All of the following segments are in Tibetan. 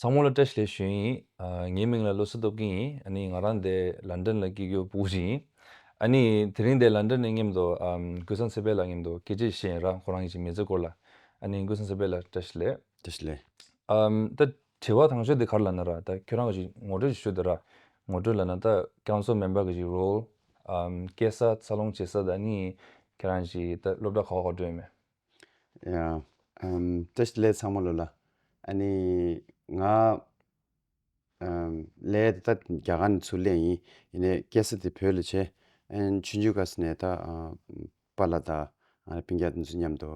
ཚང་མོ་ལ་བཀྲ་ཤིས་ལེ་ཞུ་ཡིན། ངའི་མིང་ལ་བློ་གསལ་སྟོབས་རྒྱལ་ཡིན། ཨ་ནི་ང་རང་འདས་ལ་འདྲེན་ལ་སྐྱིད་རྒྱུ་པུ་གུ་ཅིག་ཡིན། ཨ་ནི་དེ་རིང་འདས་ལ་འདྲེན་ནས་ངེམ་དོ། ཀུན་བཟང་ཚེ་དཔལ་ལགས་ངེམ་དོ་སྐད་ཅིག་བཤད་ཡིན་རང་ཁོ་རང་གི་ཅིག་མི་ཚེ་སྐོར་ལ། ཨ་ནི་ཀུན་བཟང་ཚེ་དཔལ་ལགས་བཀྲ་ཤིས་ལེ། བཀྲ་ཤིས་ལེ། ད་དྲི་བ་ཐང་ཆོད་དེ་གར་ལ་ན་ར་ད་ཁྱོད་རང་གི་ཅིག་ངོ་སྤྲོད་ཅིག་ཞུ་དེ་ར། ངོ་སྤྲོད་ལ་ན་ད་རྐྱང་ཚོགས་མེན་པར་གི་ཅིག་རོལ། སྐད་ས་འཚར་ལོངས་བྱེད་ས་ད་ནི་ཁྱེད་རང་ཅིག་ད་སློབ་གྲྭ་ག་བ་ག་བྲོས་ཡོད་མེད། ཡང། བཀྲ་ཤིས་ལས་ཚང་མ་ལོས་ལ། ཨ་ནི། ང། ལས་འདི་ད་རྒྱ་གར་ནས་ཚུར་ལེན་ཡིན། ཡིན་ནས་སྐད་ས་དེ་བོད་ལ་བྱས། ཨན་ཆུ་འཇུ་ཁ་ས་ནས་ད། པཱ་ལ་ད། པིང་རྒྱ་དེ་ཚོ་མཉམ་དུ།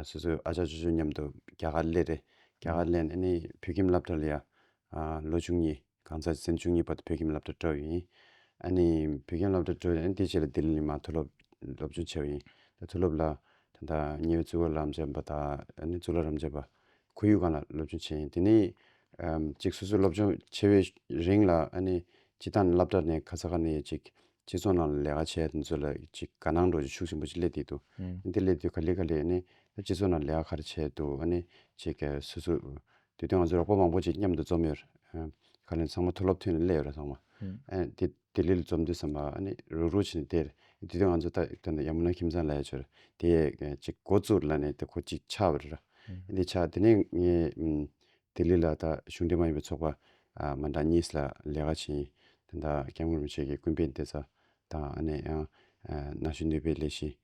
སོ་སོའི་ཨ་ཅག་ཅུ་ཅོ་མཉམ་དུ་རྒྱ་གར་སླེབས་རེད། རྒྱ་གར་སླེབས་ནས་ནི་བོད་ཁྱིམ་སླབ་གྲྭ་ལ་ཡང། ལོ་ཆུང་གཉིས། གང་ཚ་ཚེ་བཅུ་གཉིས་པ་དེ་བོད་ཁྱིམ་སློབ་གྲྭ་བྲོ་ཡིན། ཨ་ནི་བོད་ཁྱིམ་སློབ་གྲྭ་བྲོ་ཡིན་དེ་ཕྱིར་ལ་ལྡི་ལི་ནི་མ་མཐོ་སློབ་སློབ་ཆུང་ཆེ་བ་ཡིན། ད་མཐོ་སློབ་ལ་ད་ལྟ་ཉེ་བའི་གཙུག་ལག་རམ་བྱེད་པ་དང་ནི་གཙུག་ལག་རམ་བྱེད་པ་ཁོར་ཡུག་གང་ལ་སློབ་ཆུང་ཆེ་ཡིན་དེ་ནི་གཅིག་སོ་སོའི་སློབ་ཆུང་ཆེ་བའི་རིང་ལ་ཨ་ནི་སྤྱི་བཏང་ནི་སླབ་གྲྭ་ནི་ཁ་ཚ་ཁ་ནས་ཡོད་ཅིག་སྤྱི་ཚོགས་ནང་ལ་ལས་ཀ་བྱས་དེ་ཚོ་ལ་ཅིག་དགའ་སྣང་འགྲོ་རྒྱུ་ཤུགས་ཆེན་པོ་ཅིག་སླེབས་དེ་འདུག་དེ་སླེབས་དུས་ག་ལེ་ག་ལེ་ནི་སྤྱི་ཚོགས་ནང་ལས་ཀ་ག་རེ་བྱས་འདུག་ཨ་ནི་ཅིག་སོ་སོ་དེ་དོན་ང་ཚོས་རོགས་པ་མང་པོ་ཅིག་མཉམ་དུ་འཛོམས་ཡོད་རེད། ཁ་ལན་ཚང་མ་མཐོ་སློབ་ཐོན་ནས་སླེ་ཡོད་རེད་ཚང་མ། དེ་ལྟེ་ལི་ལ་འཛོམས་དུས་ཚང་མ་ཨ་ནི་རུག་རུག་བྱེད་ནས་བསྡད་རེད། དེ་དོན་ང་ཚོས་ལྟ་ན་ཡ་མོ་ན་ཁྱིམ་ཚང་ལ་ཡ་ཆོད་རེད། དེ་ཅིག་འགོ་བཙུགས་ལ་ནས་དེ་ཁོ་ཅིག་ཆགས་ཡོད་རེད། དེ་ཆགས་དེ་ནས་ངས་ལྟེ་ལི་ལ་ད་གཞུང་འབྲེལ་མ་ཡིན་པའི་ཚོགས་པ་མ་འདང་གཉིས་ལ་ལས་ཀ་བྱེད་ཡིན། ད་སྐྱབས་མགོན་རིན་པོ་ཆེ་གི་སྐུ་འབེན་བསྟེ་ས་དང་ཨ་ནི་ཡང་ན་གཞོན་ནུས་པའི་ལས་གཞི།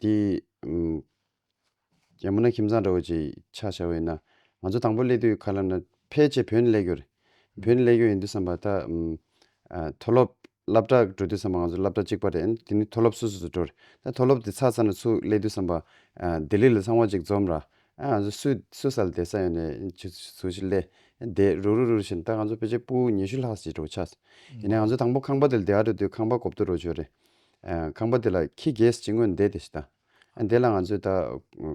དེ། རྒྱ་མོ་ན་ཁྱིམ་ཚང་འདྲ་བོ་ཅིག་ཆགས་བྱ་བས་ན། ང་ཚོ་དང་པོ་སླེབས་དུས་ཡོད་ག་ལ་ན་ཕལ་ཆེར་བོད་ནས་སླེབས་རྒྱུ་རེད། བོད་ནས་སླེབས་རྒྱུ་ཡིན་དུས་བསམ་པ་ད། མཐོ་སློབ་བསླབ་གྲྭ་འགྲོ་དུས་བསམ་པ་ང་ཚོ་བསླབ་གྲྭ་གཅིག་པ་རེད་ཨང་དེ་ནི་མཐོ་སློབ་སོ་སོ་སུ་འགྲོ་རེད། ད་མཐོ་སློབ་དེ་ཚར་ཚར་ན་སུ་སླེབས་དུས་བསམ་པ། ལྡི་ལི་ལ་ཚང་བ་ཅིག་འཛོམས་ར། ཨ་ང་ཚོ་སུ་སུ་ས་ལ་བསྡད་ས་ཡོད་ནས་ཇུ་ཇུ་ཞིག་སླེ། བསྡད་རུག་རུག་རུག་རུག་བྱས་ན་ད་ང་ཚོ་ཕལ་ཆེར་སྤུ་ཉི་ཤུ་ལྷག་ཟིག་འགྲོ་གི་ཆགས་སོང། ཡིན་ན་ང་ཚོ་དང་པོ་ཁང་པ་དེ་ལ་བསྡད་ཨ་འགྲོ་དུས་ཁང་པ་གོབ་ཏུ་འགྲོ་བྱུང་རེད། ཁང་པ་དེ་ལ་ཁྱི་རྒས་ཅིག་ངོས་ནས་བསྡད་དེ་ཞེས་དང། ཨ་དེ་ལ་ང་ཚོས་ད་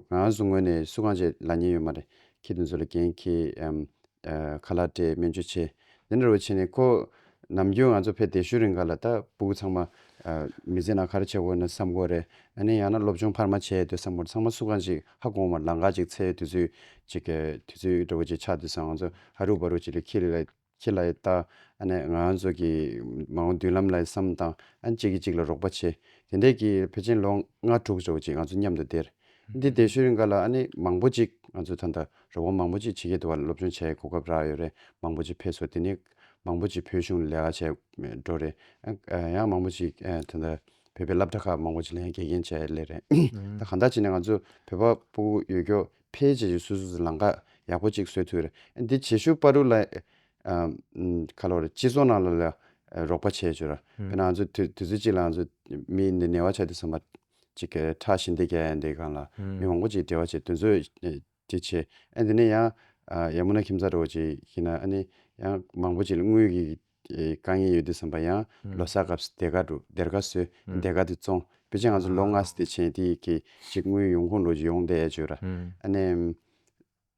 གང་ཡང་སུ་ངོས་ནས་སུ་གང་བྱས་ལ་ཉན་ཡོད་མ་རེད་ཁྱི་དེ་ཚོ་ལ་རྒན་ཁྱི། ཁ་ལག་སྤྲད་སྨན་བཅོས་བྱས། དེ་འདྲ་བོ་བྱས་ནས་ཁོ། ནམ་རྒྱུན་ང་ཚོ་ཕེབས་དེ་ཤུལ་རིང་ག་ལ་ད་སྤུ་གུ་ཚང་མ། མི་ཚེ་ནང་ཁར་བྱས་དགོས་ན་བསམ་དགོས་རེད་ཨ་ནེ་ཡང་ན་སློབ་སྦྱོང་འཕར་མ་བྱས་ཡོད་དུས་བསམ་དགོས་རེད་ཚང་མ་སུ་གང་ཞིག་ཧ་གོང་མར་ལང་ཀ་ཅིག་འཚལ་ཡོད་དུས་ཚོད་ཅིག། དུས་ཚོད་འདྲ་བོ་ཅིག་ཆགས་དུས་སང་ང་ཚོ་ཧ་རུག་བ་རུག་ཅིག་ལས་ཁྱི་ལ། ཁྱེད་ལ་ཡི་དྭགས་ཨ་ནེ་ང་ཚོ་གི་མ་འོངས་མདུན་ལམ་ལ་ཡི་བསམ་དང་ཨ་གཅིག་གིས་གཅིག་ལ་རོགས་པ་བྱེད། དེ་འད་ཀྱི་ཕེ་ཆེན་ལོ་ལྔ་དྲུག་ཟོ་གཅིག་ང་ཚོ་མཉམ་དུ་བསྡད། འདི་འད་ཤུལ་རིང་ག་ལ་ཨ་ནེ་མང་པོ་གཅིག་ང་ཚོ་ད་འད་རོགས་པ་མང་པོ་གཅིག་བྱེད་ཀྱི་འདུག་བ་སློབ་སྦྱོང་བྱས་གོ་སྐབས་རག་ཡོད་རེད་མང་པོ་གཅིག་ཕེ་སོ་དེ་ནི་མང་པོ་གཅིག་བོད་གཞུང་ལས་ཀ་བྱས་འགྲོ་རེད་ཡང་མང་པོ་གཅིག་ད་འད་བོད་པའི་སླབ་གྲ་ཁག་མང་པོ་གཅིག་ལན་འགེལ་རྐྱེན་བྱས་ལེ་རེད་ད་ག་འད་བྱས་ནས་ང་ཚོ་བོད་པ་པོ་ཡོད་སྐྱོ་ཕལ་ཆེ་ཆེ་སུ་སུ་ལ་འགག་ཡག་པོ་གཅིག་བཟོས་ཐུ། འདི་བྱེད་ཤུག་པ་རུ་ལ། ཁ་ལོ་རེ་སྤྱི་ཚོགས་ནང་ལ་ལ་རོགས་པ་བྱས་ཆོ་ར། པེ་ན་ང་ཚོ་དུས་ཚོད་གཅིག་ལ་ང་ཚོ་མི་འདི་ནེ་བ་ཆ་དེ་བསམ་པ། གཅིག་གེ་ཁྲག་ཤིན་ཏེ་གེ་འདི་གང་ལ་མི་མང་པོ་གཅིག་འབྲེལ་བ་བྱས་དུས་ཚོད་དེ་ཆེ། འདི་ནི་ཡང། ཡ་མུ་ན་ཁྱིམ་ཚ་རོ་གཅིག་ཤི་ན་ཨ་ནི་ཡང་མང་པོ་གཅིག་ལ་དངུལ་གི་དཀའ་ངལ་ཡོད་དུས་བསམ་པ་ཡང། ལོ་སར་སྐབས་སུ་དེ་ག་འགྲོ་དེར་ག་སོས་དེ་ག་དུ་བཙོང། དཔེ་ཆ་ང་ཚོ་ལོ་ལྔ་སྟེ་ཆེན་དེ་གི་གཅིག་དངུལ་ཡོང་ཁུངས་ལོ་བཞི་ཡོང་བསྡད་ཡ་བྱོས་ར། ཨ་ནི།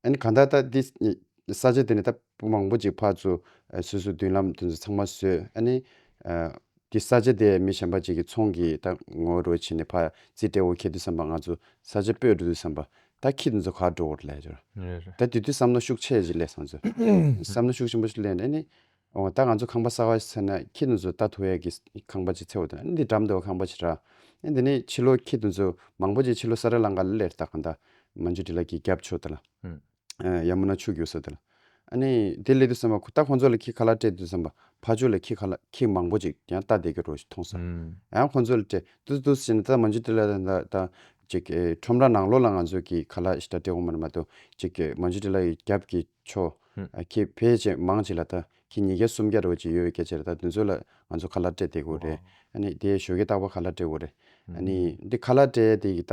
ཨ་ནི་གང་ལྟར་ད་འདི། ས་ཆ་དེ་ནས་ད་སྤུ་མང་པོ་ཅིག་ཕར་ཚུར། སོ་སོའི་མདུན་ལམ་དེ་ཚོ་ཚང་མ་བཟོས་ཨ་ནི། འདི་ས་ཆ་དེ་མི་གཞན་པ་ཅིག་གི་ཚོང་གི་ད་ངོ་རོལ་བྱེད་ནས་ཕར་རྩིས་སྤྲད་འོ་ཁེལ་དུས་བསམ་པ་ང་ཚོ་ས་ཆ་སྤོས་འགྲོ་དུས་བསམ་པ། ད་ཁྱི་དེ་ཚོ་ག་འགྲོ་འོ་ར་ལ་ཡ་བྱོས་ར། ད་དེ་དུས་བསམ་བློ་ཤུགས་ཆེ་ཞིག་སླེབས་སོང་ཚོད། བསམ་བློ་ཤུགས་ཆེན་པོ་ཞིག་སླེབས་ནས་ཨ་ནི། འོ་ད་ང་ཚོ་ཁང་པ་གསར་བ་ཞིག་ཚར་ན་ཁྱེད་རྣམས་ཚོ་ད་ཐོ་ཡག་གི་ཁང་པ་ཅིག་ཚེ་བོ་དང་ཨ་འདི་འགྲམ་དུ་ཁང་པ་ཞིག་རག་ཨ་འདི་ནས་ཕྱི་ལོ་ཁྱེད་རྣམས་ཚོ་མང་པོ་ཅིག་ཕྱི་ལོ་ས་ར་ལང་ཀ་ལ་ལེར་བཏགས་གང་དང་མ་མཆུ་འདྲི་ལ་གི་རྒྱབ་ཕྱོགས་དེ་ལ་ཡ་མུ་ན་ཆུ་རྒྱུགས་ས་དེ་ལ་ཨ་ནི་དེ་སླེ་དུ་བསམ་པ་ཁོ་ད་ཁོང་ཚོ་ལ་ཁྱི་ཁ་ལག་སྤྲད་དུ་བསམ་པ་ཕ་ཆོས་ལ་ཁྱི་ཁ་ལག་ཁྱི་མང་པོ་ཅིག་ཡང་བལྟ་བསྡད་ཀྱི་རོ་ཞིག་མཐོང་ས་ཡང་ཁོང་ཚོ་ལ་སྤྲད་དུ་དུ་ཟེར་ནས་ད་མ་མཆུ་འདྲི་ལ་དང་ད་ཅིག་ཁྲོམ་ར་ནང་ལོགས་ལ་ང་ཚོ་གི་ཁ་ལག་ཞིག་ད་སྤྲད་འོང་བ་ན་མ་གཏོགས་ཅིག་མ་མཆུ་འདྲི་ལ་ཡི་རྒྱབ་ཀྱི་བྷྱོ། ཁྱེད་ཕལ་ཆེར་མང་ཆེ་ལ་ད་ཁྱེད་ཉིས་བརྒྱ་སུམ་བརྒྱ་རེ་བ་ཅིག་ཡོད་བའི་སྐད་ཆ་རེ་ད་དེ་ཚོ་ལ་ང་ཚོ་ཁ་ལ་སྤྲད་བསྡད་དགོས་རེད། ཨ་ནི་དེ་ཞོ་གས་བཏགས་པ་ཁ་ལ་སྤྲད་དགོས་རེད། ཨ་ནི་དེ་ཁ་ལ་སྤྲད་དེ་ཡི་ད་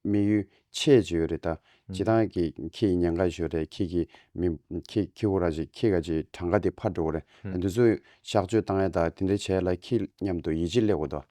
མི་ཡུལ་ཆད་ཅིག་ཡོད་རེད་ད་ཇི་ད་ཀྱི་ཁྱེད་ཡི་ཉན་ཁ་ཞོ་རེད་ཁྱེད་ཀྱི་མི་ཁྱེད་ཁྱེད་ཁོ་ར་ཅིག་ཁྱེད་ག་ཅིག་གྲངས་ཀ་དེ་ཕར་འགྲོ་གོ་རེད་ད་དེ་ཚོ་གཤགས་བཅོས་བཏང་ཡ་ད་དེ་འདྲ་བྱས་ལ་ཁྱེད་མཉམ་དུ་ཡི་ཅིག་སླེ་གོ་ད།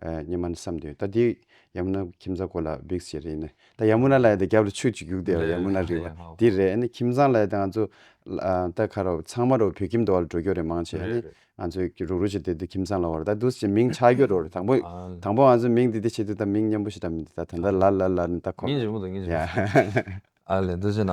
སྙེ་མ་ནི་བསམ་དོན་ལྟ་དེ་ཡ་མུ་ན་ཁྱིམ་ཚང་གོ་ལ་བིག་ཟེར་ཡིན་ནི་ད་ཡ་མུ་ན་ལ་ཡོད་རྒྱབ་ལ་ཆུ་གཅིག་རྒྱུག་བསྡད་པ་ཡ་མུ་ན་རི་བ་འདི་རེད་ཨ་ནི་ཁྱིམ་ཚང་ལ་ཡོད་ང་ཚོ་ད་ཁ་རོག་ཚང་མ་རོག་བོད་ཁྱིམ་དུ་བ་ལ་འགྲོ་རྒྱུ་རེད་མང་ཆེ་ཨ་ནི་ང་ཚོ་རུག་རུག་བྱེད་དེ་དུས་ཁྱིམ་ཚང་ལ་བ་རེད་ད་དུས་ཀྱི་མིང་ཆགས་རྒྱུ་རོག་རེད་དང་པོ་དང་པོ་ང་ཚོ་མིང་འདི་འདི་བྱེད་དུས་ད་མིང་སྙན་པོ་ཞིག་ད་མི་འདུག་ད་ད་ལ་ལ་ལ་ལ་ནི་ད་ཁོ། ཉིན་རིང་པོ་འདུག་ཉིན་རིང་པོ་འདུག་ཨ་ལས་འདི་བྱེད་ན།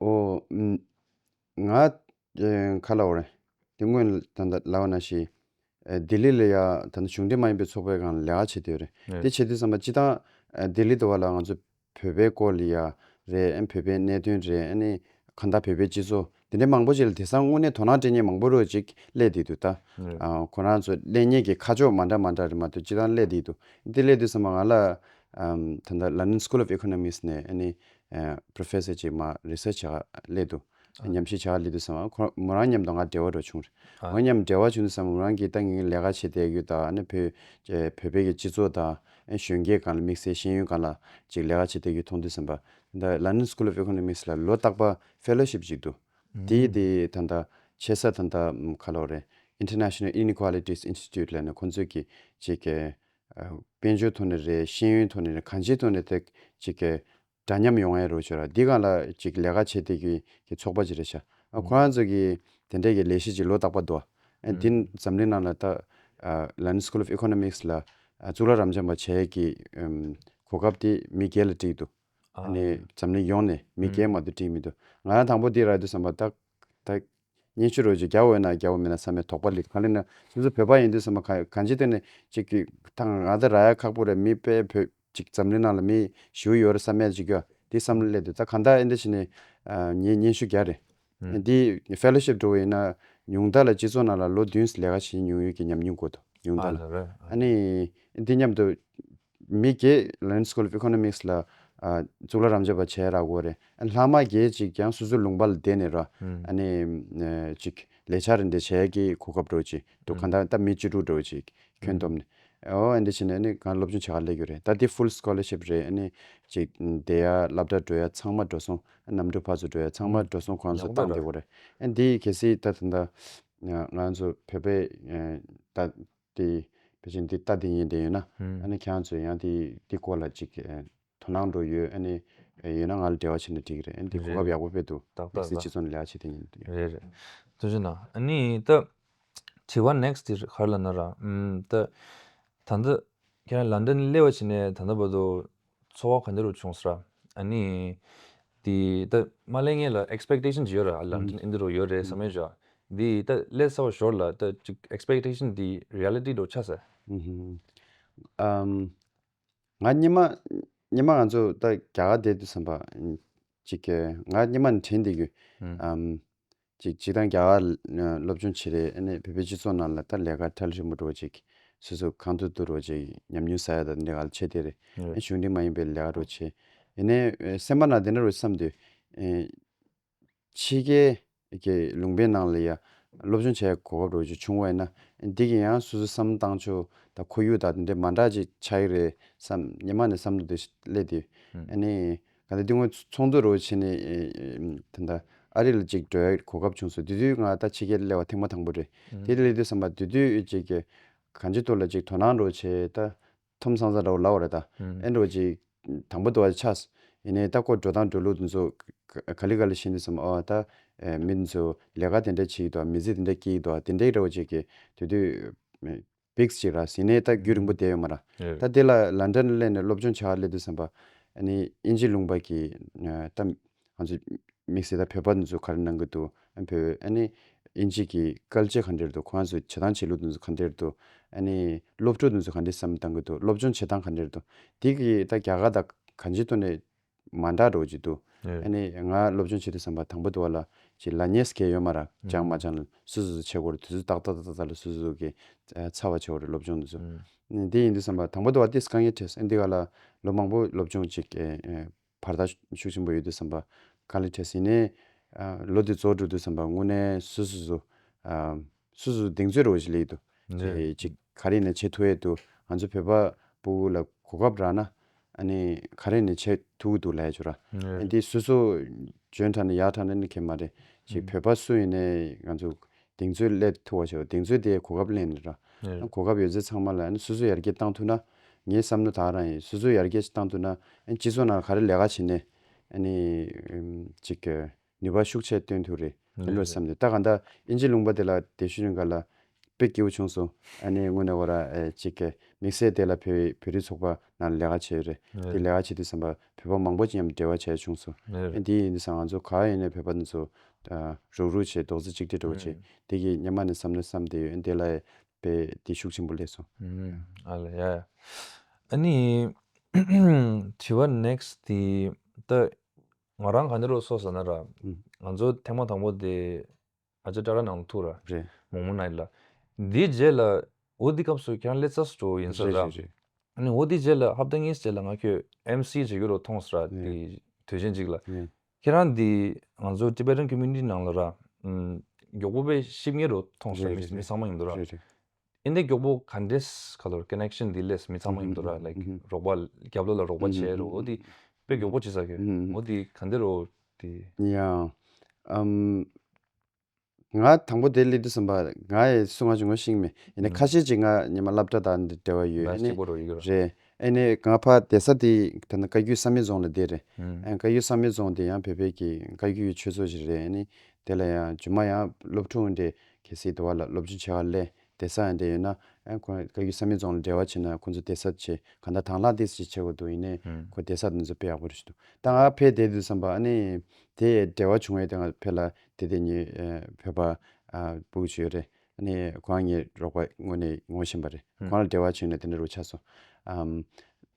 ཨོ། ང། ཁ་ལ་ཨོ། དེ་སྔོན་ད་ལྟ་ལ་ཨོ་ན་ཤི། ལྡི་ལི་ལ་ཡ། ད་ལྟ་གཞུང་འབྲེལ་མ་ཡིན་པའི་ཚོགས་པས་གང་ལེགས་བྱེད་དུས་རེད། དེ་བྱེད་དུས་བསམ་པ་སྤྱི་སྟངས། ལྡི་ལི་དུ་བ་ལ་ང་ཚོ་བོད་པའི་སྐོར་ལ་ཡ། རེད་ཨེ། བོད་པའི་གནད་དོན་རེད་ཨེ་ནི། གང་ལྟ་བོད་པའི་སྤྱི་ཚོགས། དེ་འདྲའི་མང་པོ་ཅིག་ལ་དེ་སང་དངོས་གནས་དོ་སྣང་སྤྲད་ཉེན་མང་པོ་རོད་ཅིག་སླད་བསྡད་འདུག་ད། ཁོ་རང་ཚོ་སླད་ཉེན་གྱི་ཁ་ཕྱོགས་མ་འདྲ་མ་འདྲ་རེད་མ་གཏོགས་སྤྱི་སྟངས་སླད་བསྡད་འདུག་དེ་སླད་དུས་བསམ་པ་ང་ལ། ད་ལྟ London School of Economics ནས་ཨེ་ནི། Professor ཅེས་མ Research བྱ་ག་ལས་འདུག་ཉམས་ཞིབ་བྱ་ག་ལས་འདུག་བསམ་པ་ཁོང་མོ་རང་མཉམ་དུ་ང་འབྲེལ་བ་འགྲོ་བྱུང། ང་མཉམ་འབྲེལ་བ་བྱུང་དུ་བསམ་པ་མོ་རང་གིས་ཏང་གིས་ལས་ཀ་བྱེད་བསྡད་ཡུལ་དང་ཨ་ནི་བོད་བོད་པའི་སྤྱི་ཚོགས་དང་གཞོན་སྐྱེས་གང་ལ་དམིགས་བསལ་ཤེས་ཡོན་གང་ལ་ཅིག་ལས་ཀ་བྱེད་བསྡད་ཡུལ་མཐོང་དུས་བསམ་པ། འདི London School of Economics ལ་ལོ་རྟག་པ Fellowship ཅིག་འདུག་དེ་དེ་ད་ལྟ་ཆེ་ས་ད་ལྟ་ག་ལོ་རེད International Inequalities Institute ལས་ནས་ཁོང་ཚོས་ཀྱིས་ཅིག་དཔལ་འབྱོར་ཐོག་ནས་རེད་ཤེས་ཡོན་ཐོག་ནས་རེད་གང་ཅིའི་ཐོག་ནས་ཐད་ཅིག་གི་འདྲ་མཉམ་ཡོང་ཨེ་རོགས་བྱོས་ར་འདི་གང་ལ་ཅིག་ལས་ཀ་བྱེད་བསྡད་རྒྱུ་ཡིན་གི་ཚོགས་པ་ཅིག་རེད་ཤ་ཨ་ཁོ་རང་ཚོ་གི་དེ་འདྲས་ཀྱི་ལས་གཞི་ཅིག་ལོ་རྟག་པ་འདུག་ཨ་འདི་འཛམ་གླིང་ནང་ལ་ད London School of Economics ལ་གཙུག་ལག་རམ་འབྱམས་པ་བྱས་ཀྱི་གོ་སྐབས་དེ་མི་བརྒྱད་ལ་བཀྲིས་འདུག་ཨ་ནི་འཛམ་གླིང་ཡོངས་ནས་མི་བརྒྱད་མ་དུ་བཀྲིས་མི་འདུག་ང་རང་དང་པོ་འདི་ར་འདུག་བསམ་པ་ད་སྙན་ཞུ་རོལ་ཅིག་རྒྱ་འོས་ན་རྒྱ་འོས་མིན་ན་ས་མེད་དོགས་པ་ལི་གང་ལི་ན་སོ་སོ་བོད་པ་ཡིན་དུས་ས་མ་ག་གང་ཅི་ཏེ་ནི་ཅིག་གི་ཐང་ག་ང་ད་ར་ཡ་ཁག་པོ་རེད་མི་པའི་བོད་ཅིག་འཛམ་གླིང་ནང་ལ་མི་ཞུ་ཡོད་རེད་ས་མེད་ཅིག་གི་དེ་བསམ་བློ་སླེབས་དུས་ད་གང་ད་ཨེ་འདི་བྱེད་ནི་ངའི་སྙན་ཞུ་རྒྱ་རེད་འདི Fellowship འགྲོ་བ་ཡིན་ན་ཉུང་མཐའ་ལ་སྤྱི་ཚོགས་ནང་ལ་ལོ་བདུན་བསི་ལས་ཀ་བྱེད་མྱོང་ཡོད་ཀྱི་ཉམས་མྱོང་དགོས་འདུག་ཉུང་མཐའ་ལ་ཨ་ནི་འདི་སྙམ་དུ་མི་དགེ་ལེན School of Economics ལ་གཙུག་ལག་རམ་འབྱོར་པ་བྱས་རག་གོ་རེ་ལྷག་མ་དགེ་ཅིག་ཀྱང་སོ་སོའི་ལུང་པ་ལ་བསྡད་ནས་ར་ནི་ཅིག་ལས་བྱ་རེ་འདི་བྱས་ཀྱི་གོ་སྐབས་འགྲོ་ཅིག་འདུག་གང་ལྟར་ད་མི་བཅུ་དྲུག་འགྲོ་ཅིག་ཁྱོན་བསྡོམས་ནས་ཨོ་འདི་བྱས་ནས་གང་སློབ་སྦྱོང་བྱས་ཁ་ལས་རྒྱུ་རེད་ད་འདི Full Scholarship རེད་ཨ་ནི་ཅིག་འདི་ཡ་བླ་བྲ་འགྲོ་ཡ་ཚང་མ་འགྲོ་སོང་ནམ་གྲུ་ཕ་ཚོ་འགྲོ་ཡ་ཚང་མ་འགྲོ་སོང་གོང་སོ་བཏང་བསྡད་གོ་རེ་འདི་གལ་སྲིད་ད་ད་ང་ཚོ་བོད་པའི་ད་དེ་བེད་སྤྱོད་འདི་ལྟ་འདི་ཡིན་དེ་ཡོད་ན་ཨ་ནི་ཁྱེད་རང་ཚོས་ཡང་དེ་དེ་སྐོར་ལ་ཅིག་དོ་སྣང་འགྲོ་ཡོད་ཨ་ནི་ཡོད་ན་ང་ལ་འབྲེལ་བ་བྱས་ན་འགྲིག་རེད་ཨ་ནི་དེ་གོ་སྐབས་ཡག་པོ་དཔེ་འདུག་དག་དག་དག་དག། སྤྱི་ཚོགས་ནས་ལེགས་བྱས་དེ་ཡིན་དེ་ཡོད། རེད་རེད། ཐུགས་ཆེ་ན་ཨ་ནི་ད་དྲི་བ next དེ་གར་ལ་ན་ར་ད་ད་འདི་ཁྱེད་རང་ལ་འདི་ནི་ལེ་བ་བྱས་ནས་ད་ད་བར་དུ་འཚོ་བ་ག་འདྲ་རུ་བྱུང་ཟེར་ར། ཨ་ནི། དེ་ད་མ་ལས་ངས་ལ expectation ཇི་ཡོད་ར་ལ་འདི་འདི་རུ་ཡོད་རེད་ཟེར་མོད་ཀྱང། དེ་ད་ལས་གསལ་བོ་ཞོར་ལ་ད་ཅིག expectation དེ reality དུ་ཆགས་ཟེར། ང་སྙེ་མ་སྙེ་མ་ང་ཚོ་ད་རྒྱ་གར་བསྡད་འདུག་བསམ་པ། ཅིག་ང་སྙེ་མ་ནས་དྲན་བསྡད་ཡོད། ཅིག་ཅིག་དང་རྒྱ་གར་སློབ་ཆུང་བྱེད་རེས་ཨ་ནེ་བོད་པའི་སྤྱི་ཚོགས་ནང་ལ་ད་ལས་ཀ་ཐལ་རིང་པོ་འགྲོ་ཅིག་སོ་སོ་གང་དུ་དུ་རོ་ཅིག་ཉམས་མྱོང་ཟ་ཡ་དང་འདི་ག་ལ་ཆེ་དེ་རེད་ཨ་ནེ་གཞུང་འབྲེལ་མ་ཡིན་པའི་ལས་ཀ་འགྲོ་ཆེ་ཡེ་ནས་སེམས་པ་ན་དེ་འདྲ་རེད་བསམ་དུས་ཕྱི་རྒྱལ་གྱི་ལུང་པའི་ནང་ལ་ཡང་སློབ་ཆུང་བྱ་ཡ་གོ་སྐབས་རོ་ཅིག་བྱུང་བ་ཡིན་ན་འདི་གི་ཡང་སོ་སོ་བསམ་བཏང་ཆོག་ད་ཁོར་ཡུག་དང་དེ་འདྲ་མ་འདྲ་ཅིག་ཆགས་ཡི་རེད་བསམ་ཉི་མ་ནས་བསམ་དུ་དེ་སླེ་དུས་ཨ་ནེ་ང་ད་དེ་སྔོན་ཚོང་མཛོད་རོ་བྱས་ནས་ད་ད་ཨ་རི་ལ་ཅིག་འགྲོ་ཡག་གོ་སྐབས་བྱུང་སོང་དེ་དུས་ང་ད་ཕྱི་རྒྱལ་གླེ་བ་ཐེངས་མ་དང་པོ་རེད་དེ་གླེ་དུས་བསམ་པ་དེ་དུས་ཅིག་གང་ཅི་ཐུག་ལ་ཅིག་དོ་སྣང་རོ་བྱས་ད་ཐོམ་སང་ས་རོ་ལ་བ་རེད་ད་ཨེ་འགྲོ་ཅིག་དང་པོ་དུ་བ་ཆགས་སོ་ཡིན་ནའི་ད་སྐོར་འགྲོ་སྟངས་འགྲོ་ལུགས་དེ་ཚོ་ག་ལི་ག་ལི་ཤེས་འདུག་བསམ་ཨོ་ད་མི་དེ་ཚོས་ལས་ཀ་དེ་འདྲ་བྱེད་ཀྱི་འདུག་བ་མི་ཚེ་དེ་འདྲ་སྐྱེལ་གྱི་འདུག་བ་དེ་འདྲའི་རེད་བ་ཅིག་གིས་དེ་དུས། བིཀས་ཅེས་ར་བཟི་ནས་ད་རྒྱུད་རིང་པོ་བསྡད་ཡོད་མ་རང། ད་དེ་ལ་ལ་འདྲ་གླས་ནས་སློབ་སྦྱོང་བྱ་བར་སླེབས་འདུག་བསམ་པ། ཨ་ནི་དབྱིན་ཇི་ལུང་པ་གིས་ད་ང་ཚོ་དམིགས་བསལ་ད་བོད་པ་འདི་ཚོ་ག་རེ་གནང་གི་འདུག་ཨ་བོད་ཨ་ནི་དབྱིན་ཇི་གི་སྐལ་ལྕེ་ག་འདྲེར་འདུག་ཁོ་རང་ཚོའི་བྱེད་སྟངས་བྱེད་ལུགས་འདི་ཚོ་ག་འདྲེར་འདུག་ཨ་ནི་སློབ་ཕྲུག་འདི་ཚོ་ག་འདྲེ་བསམ་བཏང་གི་འདུག་སློབ་སྦྱོང་བྱེད་སྟངས་ག་འདྲེར་འདུག་དེ་གི་ད་རྒྱ་གར་ད་ག་འཇི་ཐོ་ནས་མ་འདྲ་འགྲོ་གི་འདུག་ཨ་ནི་ང་སློབ་སྦྱོང་བྱེད་དུ་བསམ་པ་དང་པོ་དུ་བ་ལ་གྱི་ལ་ཉེས་སྐལ་ཡོད་མ་རག་སྦྱང་མ་སྦྱང་ལ་སུ་སུ་སུ་བྱེད་དགོས་རེད་དུས་ཚོད་ཏག་ཏག་ཏག་ཏག་ལ་སུ་སུ་སུ་གི་ཚར་བ་བྱེད་དགོས་རེད་སློབ་སྦྱོང་དུས་ཚོད་ནི་དེ་ཡིན་དུ་བསམ་པ་དང་པོ་དུ་བ་ཏིས་དཀའ་ངལ་འཕྲད་སོང་འདི་ག་ལ་ལོ་མང་པོ་སློབ་སྦྱོང་གྱི་བར་ཐག་ཤུགས་ཆེན་པོ་ཡོད་དུ་བསམ་པ་དཀའ་ལས་འཕྲད་སོང་ཡིན་ནའི་ལོ་དེ་རྫོགས་འགྲོ་དུས་བསམ་པ་དངོས་གནས་སུ་སུ་སུ་སུ་སུ་གདེང་ཚོད་རོགས་བཞི་ལེགས་འདུག་དེ་གཅིག་ག་རེ་ནས་བྱེད་ཐུ་ཡས་འདུག་ང་ཚོ་བོད་པ་པུ་གུ་ལ་གོ་སྐབས་རག་ན་ཨ་ནི་ག་རེ་ནས་བྱེད་ཐུ་གུ་འདུག་ལས་བྱོ་ར་ཨན་དེ་སུ་སུ་འཇོན་དྲག་ན་ཡག་དྲག་ན་ནི་ཁེ་མ་རེད་ཅིག་བོད་པ་སུ་ཡིན་ནས་ང་ཚོ་གདེང་ཚོད་སླེབས་ཐུ་བ་བྱོ་གདེང་ཚོད་དེ་གོ་སྐབས་གླེང་ར་གོ་སྐབས་ཡོད་ཚད་ཚང་མ་ལ་ཨན་སུ་སུ་ཡར་རྒྱས་བཏང་ཐུ་ན་ངའི་བསམ་ནོ་དག་རང་ཡིན་སུ་སུ་ཡར་རྒྱས་བཏང་ཐུ་ན་ཨན་སྤྱི་ཚོགས་ནང་ག་རེ་ལས་ཀ་བྱེད་ནས་ཨ་ནི་ཅིག། ནུས་པ་ཤུགས་ཆེ་བཏོན་ཐུབ་རེད་ལེ་ལོས་བསམ་ནས་ད་ག་འདའ་ཨིན་ཇི་ལུང་པ་དེ་ལ་དེ་ཤུ་རི་འགའ་ལ་དཔེ་སྐྱེ་བོ་ཆུང་སོང་ཨ་ནེ་དངོས་ནས་ཨོ་ར་གཅིག་གས་མིག་སེར་དེ་ལ་བོད་བོད་རིགས་ཚོགས་པ་ནང་ལས་ཀ་བྱས་ཡོད་རེད་དེ་ལས་ཀ་བྱེད་དུས་བསམ་པ་བོད་པ་མང་པོ་ཅིག་ཡམ་འབྲེལ་བ་བྱས་བྱུང་སོང་ཨེ་དེ་ཡིན་ས་ང་ཚོ་ག་ཡིན་ནས་བོད་པ་འདི་ཚོ་རུག་རུག་བྱས་རྡོག་རྫི་གཅིག་སྒྲིལ་འགྲོ་བ་བྱས་དེ་གི་ཉམ་མ་ནས་བསམ་ནོ་བསམ་བསྡད་ཡོད་ཨེ་དེ་ལ་ཨེ་དཔེ་དེ་ཤུགས་ཆེན་པོ་ལས་སོང། ཨ་ལ་ཡ་ཡ་ཨ་ནི་དྲི་བ next དེ་ད་ང་རང་ག་འདི་རུ་སོ་ཟེར་ན་ར། ང་ཚོ་ཐེངས་མ་དང་པོ་དེ་ཨ་ཅེ་བཀྲ་ར་ནང་དུ་ཐུག་ར། མོག་མོ་ན་ཡིན་ལ། འདིའི་རྗེས་ལ་འོ་འདི་སྐབས་སུ་ཁྱེད་རང་ཀླད་རྩ་སུ་འགྲོ་ཡིན་ས་ར། ཨ་འོ་འདི་རྗེས་ལ་ཧབ་ཏ་གཉིས་རྗེས་ལ་ང་ཁྱོད MC བྱེད་རྒྱུ་རུ་མཐོང་ས་ར་དེ་དུས་ཆེན་གཅིག་ལ། ཁྱེད་རང་འདི་ང་ཚོ Tibetan Community ནང་ལ་ར། མགྱོགས་པོ་པའི་གཤིབ་ངེས་རུ་མཐོང་ས་ར་མི་ཚང་མ་ཡིན་འདུག་ར། ཨིན་དེ་མགྱོགས་པོ་ག་འདྲེས་ག་ལོར connection delays མི་ཚང་མ་ཡིན་འདུག་ར like རོགས་པ་རྒྱབ་ལོག་ལ་རོགས་པ་བྱས་རོགས་འོ་དེ་དཔེ་མགྱོགས་པོ་བྱེད་ས་གི་འོ་དེ་ག་འདི་རོ་དེ། ཡང་ཨམ། ང་དང་པོ་དེ་ལི་འདི་ཟིན་པ་ང་ཡི་སུ་ང་ཅུང་ངོ་ཤིང་མེད་ཡིན་ནའི་ཁ་ཤས་ཅིག་ང་ཉི་མ་བསླབ་གྲྭ་དང་འདི་འབྲེལ་བ་ཡོད་ཨེ་ནས་རེད་ཨེ་ནས་ང་ཕ་དེ་ས་དེ་བོད་ན་བཀའ་རྒྱུད་ས་མེད་རྫོང་ལ་དེ་རེད་ཨེ་བཀའ་རྒྱུད་ས་མེད་རྫོང་དེ་ཡང་བོད་པའི་གི་བཀའ་རྒྱུད་ཀྱི་ཆོས་ཚོགས་ཞིག་རེད་ཨེ་ནས་དེ་ལ་ཡང་ཇུ་མ་ཡང་སློབ་ཕྲུག་འདྲེ་གལ་སྲིད་དེ་བ་ལ་སློབ་སྦྱོང་བྱེད་བ་ལས་དེ་སྲ་ཡང་དེ་ཡོད་ན། ཨེ། ཁོ་རང་བཀའ་བརྒྱུད་ས་མེད་རྫོང་ལ་འབྲེལ་བ་བྱེད་ན་ཁོང་ཚོ་དེ་སྲ་བྱེད་གང་ལྟར་དྭང་བླངས་ཏེ་ཞིག་བྱེད་དགོས་འདུག་ཡིན་ནའི་ཁོ་དེ་སྲ་དེ་ཚོ་དཔེ་ཡག་པོ་རེ་ཞུ་འདུག་ད་ང་ཕེ་དེ་དུས་བསམ་པ་ཨ་ནི། དེ་འབྲེལ་བ་བྱུང་བས་དེ་ང་ཕེ་ལ་དེ་དེ་ཉིད་བོད་པ་སྤུ་གུ་ཆུ་ཡོད་རེད་ཨ་ནི་ཁོ་རང་ངའི་རོགས་པ་དངོས་ནས་ངོ་ཤེས་པ་རེད་ཁོ་རང་ལ་འབྲེལ་བ་བྱུང་ནས་དེ་འདྲ་རུ་ཆགས་སོང།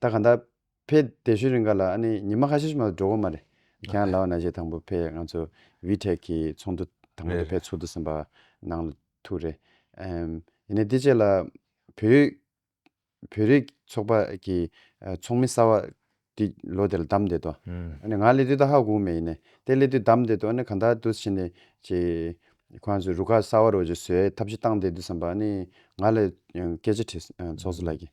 ད་གང་ལྟར། ཕའི་དེ་བཞིན་རིང་ག་ལ་ཨ་ནི་ཉི་མ་ཁ་ཤས་ཤིག་མ་གཏོགས་འགྲོ་གི་མ་རེད། ཁྱེད་རང་ལ་ན་གཞས་དང་པོ་ཕའི་ང་ཚོ་བྷི་ཐེག་གི་ཚོགས་འདུ་དང་པོ་དེ་ཕའི་ཚོགས་འདུ་ཟིན་པ་ནང་ལ་ཐུག་རེད། ཡིན་ནའི་དེ་རྗེས་ལ་བོད་ཡིག་བོད་རིགས་ཚོགས་པ་གི་ཚོགས་མི་གསར་བ་དེ་ལོ་དེ་ལ་བདམས་བསྡད་དོ། ཨ་ནི་ང་སླེབས་དུས་ད་ཧ་གོ་གི་མེད་ཡིན་ནའི་དེ་སླེབས་དུས་བདམས་བསྡད་དོ་ཨ་ནི་གང་དག་དུས་ཕྱིན་ནས་ཀྱི་ཁོ་ང་ཚོ་རུ་ཁག་གསར་བ་རུ་ཀྱི་བཟོས་ཐབས་ཅིག་བཏང་བསྡད་དུས་བསམ་པ་ཨ་ནི་ང་ལ་སྐད་ཆ་དྲིས། ཚོགས་གཙོ་ལགས་ཀྱིས།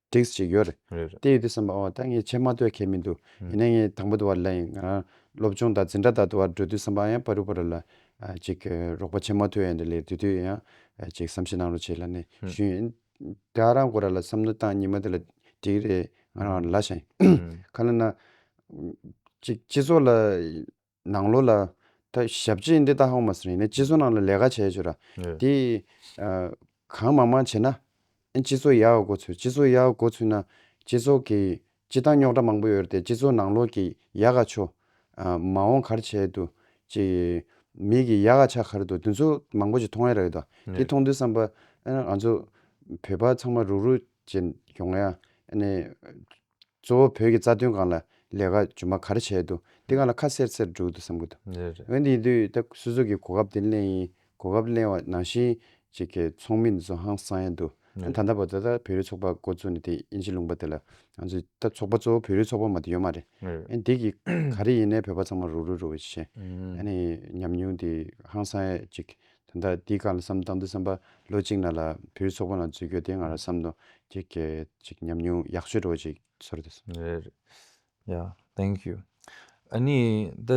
drinks ཅིག་ཡོད་རེད། རེད་རེད། དེ་ཡོད་དུས་བསམ་པ་ཨོ་ད་ངས་ཁྱེད་མ་ལྟོས་མཁན་མི་འདུག་ཡིན་ན་ངས་དང་པོ་དུ་བར་ལ་ཡིན། ང་རང་སློབ་ཆུང་དང་འཛིན་གྲྭ་དག་དུ་བར་འགྲོ་དུས་བསམ་པ་ཨ་ཡང་པ་རུ་པ་རུ་ལ། ཅིག་རོགས་པ་བྱེད་མ་ཐུབ་ཡ་འདྲ་ལེ་དུས་དུས་ཡིན་ཡང། ཅིག་བསམ་ཤེས་གནང་རོགས་བྱས་ལ་ནས་ཞུས་ཡིན། དེ་ཨ་རང་གོ་ར་ལ་བསམ་བློ་བཏང་ཉིན་མ་དེ་ལ་འགྲིག་གི་རེད་ང་རང་ལ་ཤ་ཡིན། ཁ་ལ་ན། ཅིག་སྤྱི་ཚོགས་ལ། ནང་ལོགས་ལ། ད་ཞབས་ཕྱི་འདི་ད་ཧོང་མ་སི་རིང་ནས་སྤྱི་ཚོགས་ནང་ལ་ལས་ཀ་བྱས་ཆོག་ར། དེ། གང་མང་མང་བྱས་ན། སྤྱི་ཚོགས་ཡག་གོ་ཚུལ་སྤྱི་ཚོགས་ཡག་གོ་ཚུལ་ན། སྤྱི་ཚོགས་ཀྱི་སྤྱི་བཏང་རྙོག་དྲ་མང་པོ་ཡོད་ར་ཏེ་སྤྱི་ཚོགས་ནང་ལོགས་ཀྱི་ཡ་ག་ཆོ། མ་འོང་གར་བྱས་དུ། ཅི། མིག་གི་ཡ་ག་ཆ་ཁར་དུ་དེ་ཚོ་མང་པོ་ཅིག་མཐོང་ཡ་ར་ཡོད་ད། དེ་མཐོང་དུས་བསམ་པ། ཨ་ང་ཚོ། བོད་པ་ཚང་མ་རུག་རུག་ཅན་ཡོང་ཡ། ཨ་ནས། གཙོ་བོ་བོད་ཀྱི་རྩ་དོན་སྒང་ལ་ལས་ཀ་ཇུ་མ་ག་རེ་བྱས་འདུག་དེ་སྒང་ལ་ཁ་གསལ་གསལ་འགྲོ་གི་འདུག་བསམ་གི་འདུག་རེད་རེད། འོན་ཏེ་ཡིན་དུས་ད་སུ་ཚོད་ཀྱི་གོ་སྐབས་དེ་གླེང་ཡིན་གོ་སྐབས་གླེང་བ་ནང་བཞིན་ཅིག་གི་ཚོགས་མི་འདི་ཚོ་ཧང་སང་ཡ་འདུག་ད་ད་ལྟ་བོ་ད་ད་བོད་རིགས་ཚོགས་པ་འགོ་བཙུགས་ནས་དེ་དབྱིན་ཇི་ལུང་པ་དེ་ལ་ང་ཚོས་ད་ཚོགས་པ་གཙོ་བོ་བོད་རིགས་ཚོགས་པ་མ་དེ་ཡོད་མ་རེད་ཨན་འདི་གི་ག་རེ་ཡིན་ནའི་བོད་པ་ཚང་མ་རུག་རུག་རུག་བྱེད། ཨ་ནི་ཉམས་མྱོང་དེ་ཧང་སང་ཡ་ཅིག་ད་ལྟ་འདི་ག་ལ་བསམ་བཏང་འདུག་བསམ་པ་ལོ་གཅིག་ན་ལ་བུའི་ཚོགས་པ་ནང་འཛུལ་རྒྱུ་དེ་ང་རང་བསམ་དོ་ཁྱེད་སྐད་ཅིག་ཉམས་མྱོང་ཡག་ཤོས་འགྲོ་ཅིག་ཚོར་དུ་སོང། རེད་རེད་ཡཱ thank you ཨཱ་ནི་ད་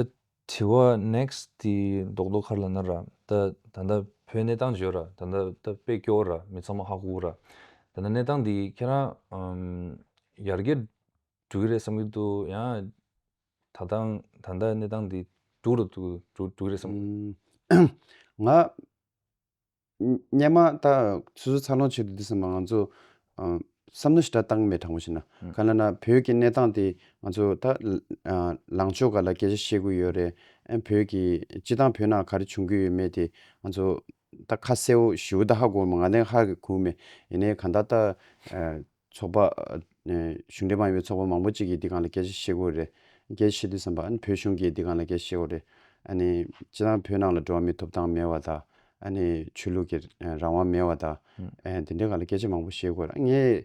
དྲི་བ next དེ་རྡོག་རྡོག་ཁར་ལ་ན་ར་ད་ད་ལྟ་བོད་གནས་སྟངས་བརྗོད་ར་ད་ད་ད་དཔེ་སྐྱོར་ར་མི་ཚང་མ་ཧ་གོ་ར་ད་ད་གནས་སྟངས་འདི་ཁྱེད་རང་ཡར་རྒྱས་འགྲོ་གི་རེད་བསམ་གི་འདུག་ཡང་ད་ལྟ་གནས་སྟངས་འདི་སྡུག་རུ་འགྲོ་གི་རེད་བསམ་གི། ང། སྙན་མ་ད་སོ་སོ་འཚར་ལོངས་བྱས་འདུག་འདི་བསམ་པ་ང་ཚོ། བསམ་བློ་ཞེ་དྲག་བཏང་མེད་དྲང་པོ་བྱས་ན། ག་ལ་ན་བོད་ཀྱི་གནས་སྟངས་དེ་ང་ཚོ་ད། ལངས་ཕྱོགས་ག་ལ་སྐད་ཆ་བཤད་དགོས་ཡོད་རེད། ཨེ་བོད་ཀྱི་སྤྱི་བཏང་བོད་ནང་ག་རེ་བྱུང་གི་ཡོད་མེད་དེ་ང་ཚོ། ད་ཁ་གསལ་བོ་ཞུ་ད་ཧ་གོ་མ་ང་ལན་ཧ་གི་གུ་མེད་ཡིན་ནའི་གང་ད་ད། ཚོགས་པ། གཞུང་འབྲེལ་མ་ཡིན་པའི་ཚོགས་པ་མང་པོ་ཅིག་གིས་འདི་གང་ལ་སྐད་ཆ་བཤད་དགོས་རེད། སྐད་ཆ་བཤད་དུས་བསམ་པ། ཨ་ནི་བོད་གཞུང་གིས་འདི་གང་ལ་སྐད་ཆ་བཤད་དགོས་རེད། ཨ་ནི། སྤྱིར་བཏང་བོད་ནང་ལ་འགྲོ་བ་མིའི་ཐོབ་ཐང་མེད་བ་དང། ཨ་ནི། ཆོས་ལུགས་ཀྱི་རང་དབང་མེད་བ་དང། དེ་འདྲའི་གང་ལ་སྐད་ཆ་མང་པོ་བཤད་དགོས་རེད། ངས།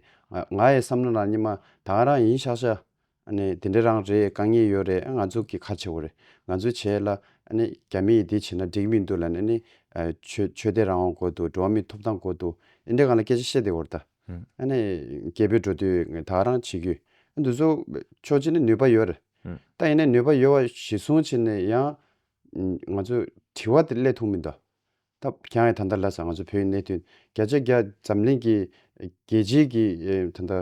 ང་ཡི་བསམ་བློ་ལ་ནི་མ། ད་ང་རང་ཡིན་ཤག་ཤག། ནས་དེ་འདྲ་རང་རེད་དཀའ་ངལ་ཡོད་རེད་ང་ཚོ་གི་ཁ་ཆེ་བོ་རེད་ང་ཚོས་བྱས་ལ། རྒྱ་མི་ཡིས་དེ་བྱས་ན་འགྲིག་མི་འདུག་ལ་ནས། ཆོས་ཆོས་དད་རང་དབང་དགོས་འདུག་འགྲོ་བ་མིའི་ཐོབ་ཐང་དགོས་འདུག་འདི་འདྲ་གང་ལ་སྐད་ཆ་བཤད་དེ་འོར་ད། ནས་རྒྱལ་པོའི་འགྲོ་དུས་ད་རང་བྱེད་རྒྱུ། འདུག་བཟོ་ཆོག་བྱས་ན་ནུས་པ་ཡོད་རེད། ད་ཡིན་ན་ནུས་པ་ཡོད་བ་གཞི་བཟུང་བྱས་ནས་ཡང། ང་ཚོས་དྲི་བ་དེ་སླད་ཐུག་མི་འདུག་ཐབས་རྐྱང་ཡང་ད་ལྟ་ལ་སར་ང་ཚོ་བོད་གནད་དོན་བརྒྱ་ཆ་བརྒྱ་འཛམ་གླིང་གི་རྒྱལ་སྤྱིའི་གི་ད་ལྟ་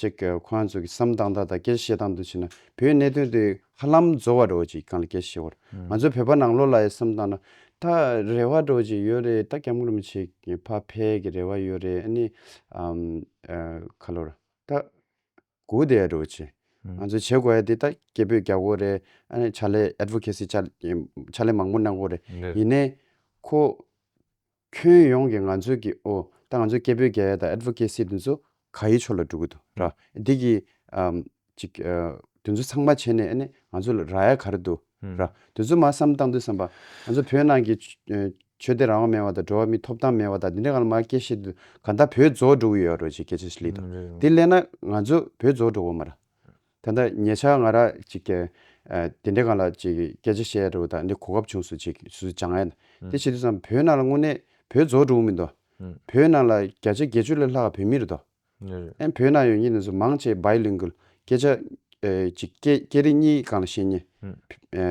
ཅེག་ཁོ་ང་ཚོ་གི་བསམ་སྟངས་དང་ད་སྐད་ཆ་བཤད་སྟངས་དུ་བྱེད་ན་བོད་གནད་དོན་དེ་ཧ་ལམ་བཟོ་བ་འགྲོ་ཅིག་གང་ལ་སྐད་ཆ་བཤད་བར་ང་ཚོ་བོད་པ་ནང་ལོག་ལ་ཡང་བསམ་སྟངས་ན་ད་རེ་བ་འགྲོ་ཅིག་ཡོད་རེད་ད་སྐྱབས་མགོན་རིན་པོ་ཆེ་ཕ་ཕས་གི་རེ་བ་ཡོད་རེད་ཨ་ནི་ཨ་ཁ་ལོ་ར་ད། གུའུ་དེ་རུ་ཆེ། ང་ཚོའི་བྱེད་དགོས་ཡ་དེ་ད་སྐད་འབོད་རྒྱག་དགོས་རེད། ཨ་ནི་ཕྱག་ལས Advocacy ཕྱག་ལས་མང་པོ་གནང་དགོས་རེད། ཡིན་ནས། ཁོ། ཁྱོན་ཡོངས་ཀྱི་ང་ཚོའི་གི་འོ། ད་ང་ཚོའི་སྐད་འབོད་རྒྱག་ཡ་དང Advocacy དེ་ཚོ་ག་ཡི་ཕྱོགས་ལ་འགྲོ་གི་འདུག་ར། འདི་གི། ཨ། ཅིག། དེ་ཚོ་ཚང་མ་བྱས་ནས་ཨ་ནི་ང་ཚོ་ལ་ར་ཡ་ག་རེ་འདུག། ར། དེ་ཚོ་མ་བསམ་བཏང་དུས་བསམ་པ། ང་ཚོ་བོད་ནང་གི། ཆོས་དད་རང་དབང་མེད་པ་དང་འགྲོ་བ་མིའི་ཐོབ་ཐང་མེད་པ་དང་དེ་འདྲའི་ཁ་ལ་མ་སྐྱེལ་བཤད་དུས་གང་ལྟར་བོད་རྫོགས་འགྲོ་གི་ཡོད་རོ་ཅིག་སྐད་ཆ་ཞིག་ལེགས་འདུག་དེ་སླད་ན་ང་ཚོ་བོད་རྫོགས་འགྲོ་གོ་མ་ར། ད་ལྟ་ཉེ་ཆར་ང་ར་ཅིག་གི། དེ་འདྲའི་ཁ་ལ་ཅིག་སྐད་ཆ་བཤད་འགྲོ་དང་འདི་གོ་སྐབས་བྱུང་སུ་ཅིག་སུ་ཅང་ཨེ། དེ་བྱེད་དུས་བསམ་བོད་ནང་ལ་དངོས་གནས་བོད་རྫོགས་འགྲོ་གི་མི་འདུག་བོད་ནང་ལ་བརྒྱ་ཆ་བརྒྱད་ཅུ་ལས་ལྷག་བོད་མི་རེད་དོ། ནི་རེད། ཨན་བོད་ན་ཡོད་ཉིད་ནས་སུ་མང་བྱས Bilingual སྐད་ཆ། གཅིག་སྐད་སྐད་རིགས་གཉིས་གང་ལ་ཤེས་ཉེ།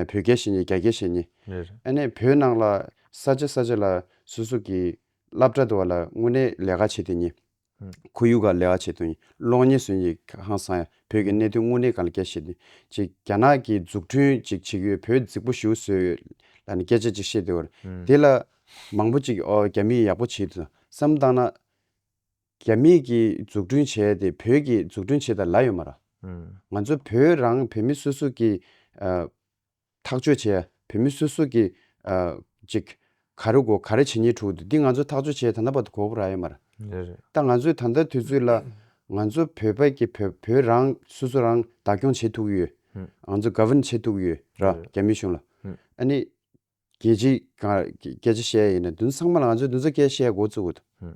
བོད་སྐད་ཤེས་ཉེ་རྒྱ་སྐད་ཤེས་ཉེ། ནི་རེད། ཨན་ནས་བོད་ནང་ལ་ས་ཆ་ས་ཆ་ལ་སུ་སུ་གི་སླབ་གྲ་དུ་བ་ལ་དངོས་གནས་ལས་ཀ་བྱེད་དུ་ཉེ། ཁོ་ཡུལ་ག་ལས་ཀ་བྱེད་དུ་ཉེ་གློག་བརྙན་བཟོས་ཉེ་ཧང་སང་ཡ་བོད་ཀྱི་གནད་དོན་དངོས་གནས་གང་ལ་སྐད་ཤེས་ནི་གཅིག་རྒྱ་ནག་གི་འཛུགས་ཁྲུན་གཅིག་བྱེད་ཀྱི་ཡོད་བོད་རྫིག་པོ་ཞུ་བཟོས་ཡོད་ལ་ནི་སྐད་ཆ་གཅིག་བཤད་དུ་བར་དེ་ལ་མང་པོ་གཅིག་ཨོ་རྒྱ་མི་ཡག་པོ་བྱེད་དུ་བསམ་བཏང་ན། རྒྱ་མིས་ཀྱིས་འཛུགས་སྐྲུན་བྱས་ཏེ་བོད་ཀྱིས་འཛུགས་སྐྲུན་བྱེད་ད་ལ་ཡོད་མ་ར། ང་ཚོ་བོད་རང་བོད་མི་སོ་སོ་ཀྱིས་ཐག་གཅོད་བྱེད་ཡ་བོད་མི་སོ་སོ་ཀྱིས་ཅིག་ག་རེ་གོ་ག་རེ་བྱེད་ཉེས་འཁྲུག་འདུག་འདི་ང་ཚོ་ཐག་གཅོད་བྱེད་ད་ད་བར་དུ་གོ་བོ་ར་ཡོད་མ་ར། ད་ང་ཚོས་ད་ལྟ་དུས་ཚོད་ལ་ང་ཚོ་བོད་པ་ཀྱིས་བོད་བོད་རང་སོ་སོ་རང་བདག་སྐྱོང་བྱེད་ཐུག་ཡོད། ང་ཚོ govern བྱེད་ཐུག་ཡོད་ར་རྒྱ་མི་གཞུང་ལ། ཨ་ནི་རྒྱལ་སྤྱི་གང་རྒྱལ་སྤྱི་གཞས་ཡིན་ན་དུན་སང་མ་ལ་ང་ཚོའི་དུན་ས་སྐྱའི་གཞས་མགོ་བཙུགས་ཡོད་དོ།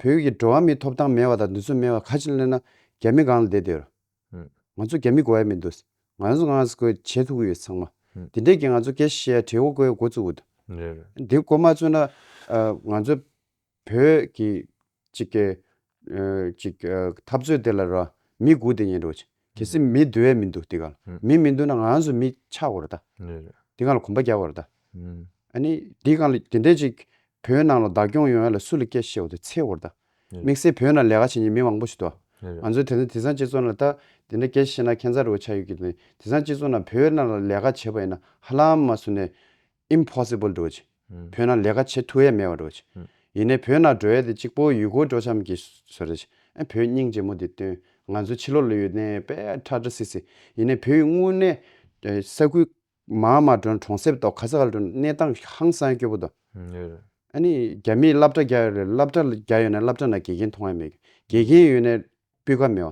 བོད་ཀྱི་འགྲོ་བ་མིའི་ཐོབ་ཐང་མེད་བ་དང་དུན་སོ་མེད་བ་ཁ་ཆེ་གླེང་ན་རྒྱ་མི་སྒང་ལ་བསྡད་སྡོད་ར། ང་ཚོ་རྒྱ་མི་གོ་ཡ་མི་འདུག་ང་ཡོང་ཚོ་ངང་སྐོས་བྱེད་ཐུབ་ཀྱི་ཡོད་ཚང་མ། དེ་འདྲས་ཀྱིས་ང་ཚོ་སྐྱའི་གཞས་བྲིས་མགོ་བཀོད་མགོ་བཙུགས་ཡོད་དོ། འདི་མགོ་མ་བཙུགས་ན་ང་ཚོ་བོད་ཀྱི། ཅིག། ཀྱི། ཅིག། འཐབ་རྩོད་དེ་ལ་རོ། མི་དགུ་དེ་ཡིན་རོ། གལ་སྲིད་མི་བསྡུ་ཡས་མི་འདུག་དེ་ག་ལ། མི་མི་འདུ་ན་ང་རང་སུ་མི་ཆགས་དགོས་རོ་ད། དེ་ག་ལ་གོམ་པ་རྒྱག་དགོས་རོ་ད། ཨ་ནི། དེ་ག་ལ་དེ་འད་ཅིག། བོད་ནང་ལ་བདག་སྐྱོང་ཡོང་ཡས་ལ་སུ་ལ་སྐད་ཤེས་བ་དེ་འཚེ་དགོས་རོ་ད། དམིགས་བསལ་བོད་ནང་ལས་ཀ་བྱེད་ཉིན་མི་མང་པོ་ཞིག་འདུག་ང་ཚོ་དེ་ཚོ་དེ་སང་སྤྱི་ཚོགས་ནང་ད་དེ་འད་སྐད་ཤེས་ན་ཁེན་ཚ་རུ་བ་ཆགས་ཡོད་ཀྱི་དེ་སང་སྤྱི་ཚོགས་ནང་བོད་ནང་ལ་ལས་ཀ་བྱེད་པ་ཡིན་ན་ཧ་ལམ་མ་སུ་ནས། Impossible Doj། བོད་ན་ལས་ཀ་བྱེད་ཐུ་ཡས་མེད་བ Doj། ཡིན་ནས་བོད་ན་འགྲོ་ཡས་དེ་གཅིག་པོ་ཡུལ་སྐོར་འགྲོ་ཆམ་གི་ཟོ་རེད། བོད་སྙིང་རྗེ་མོ་དེ་སྟོན། ང་ཚོའི་ཕྱི་ལོག་ལོས་ཡོད་ནས་པས་ཁྲ་ཁྲ་སི་སི། ཡིན་ནས་བོད་ཡུལ་དངོས་གནས། ས་ཁུལ། མ་མ་འགྲོ་ན་གྲོང་གསེབ་དོ་ག་ས་ག་ལ་འགྲོ་ན་གནས་སྟངས་ཧང་སང་སྐྱོ་པོ་དོ། ཨ་ནི་རྒྱ་མིས་སླབ་གྲ་རྒྱ་ཡོད་རེད་སླབ་གྲ་རྒྱ་ཡོད་ན་སླབ་གྲ་ན་དགེ་རྒན་མཐོང་ཡ་མེད་གི། དགེ་རྒན་ཡོད་ནས་སྤུས་ཀ་མེད་བ།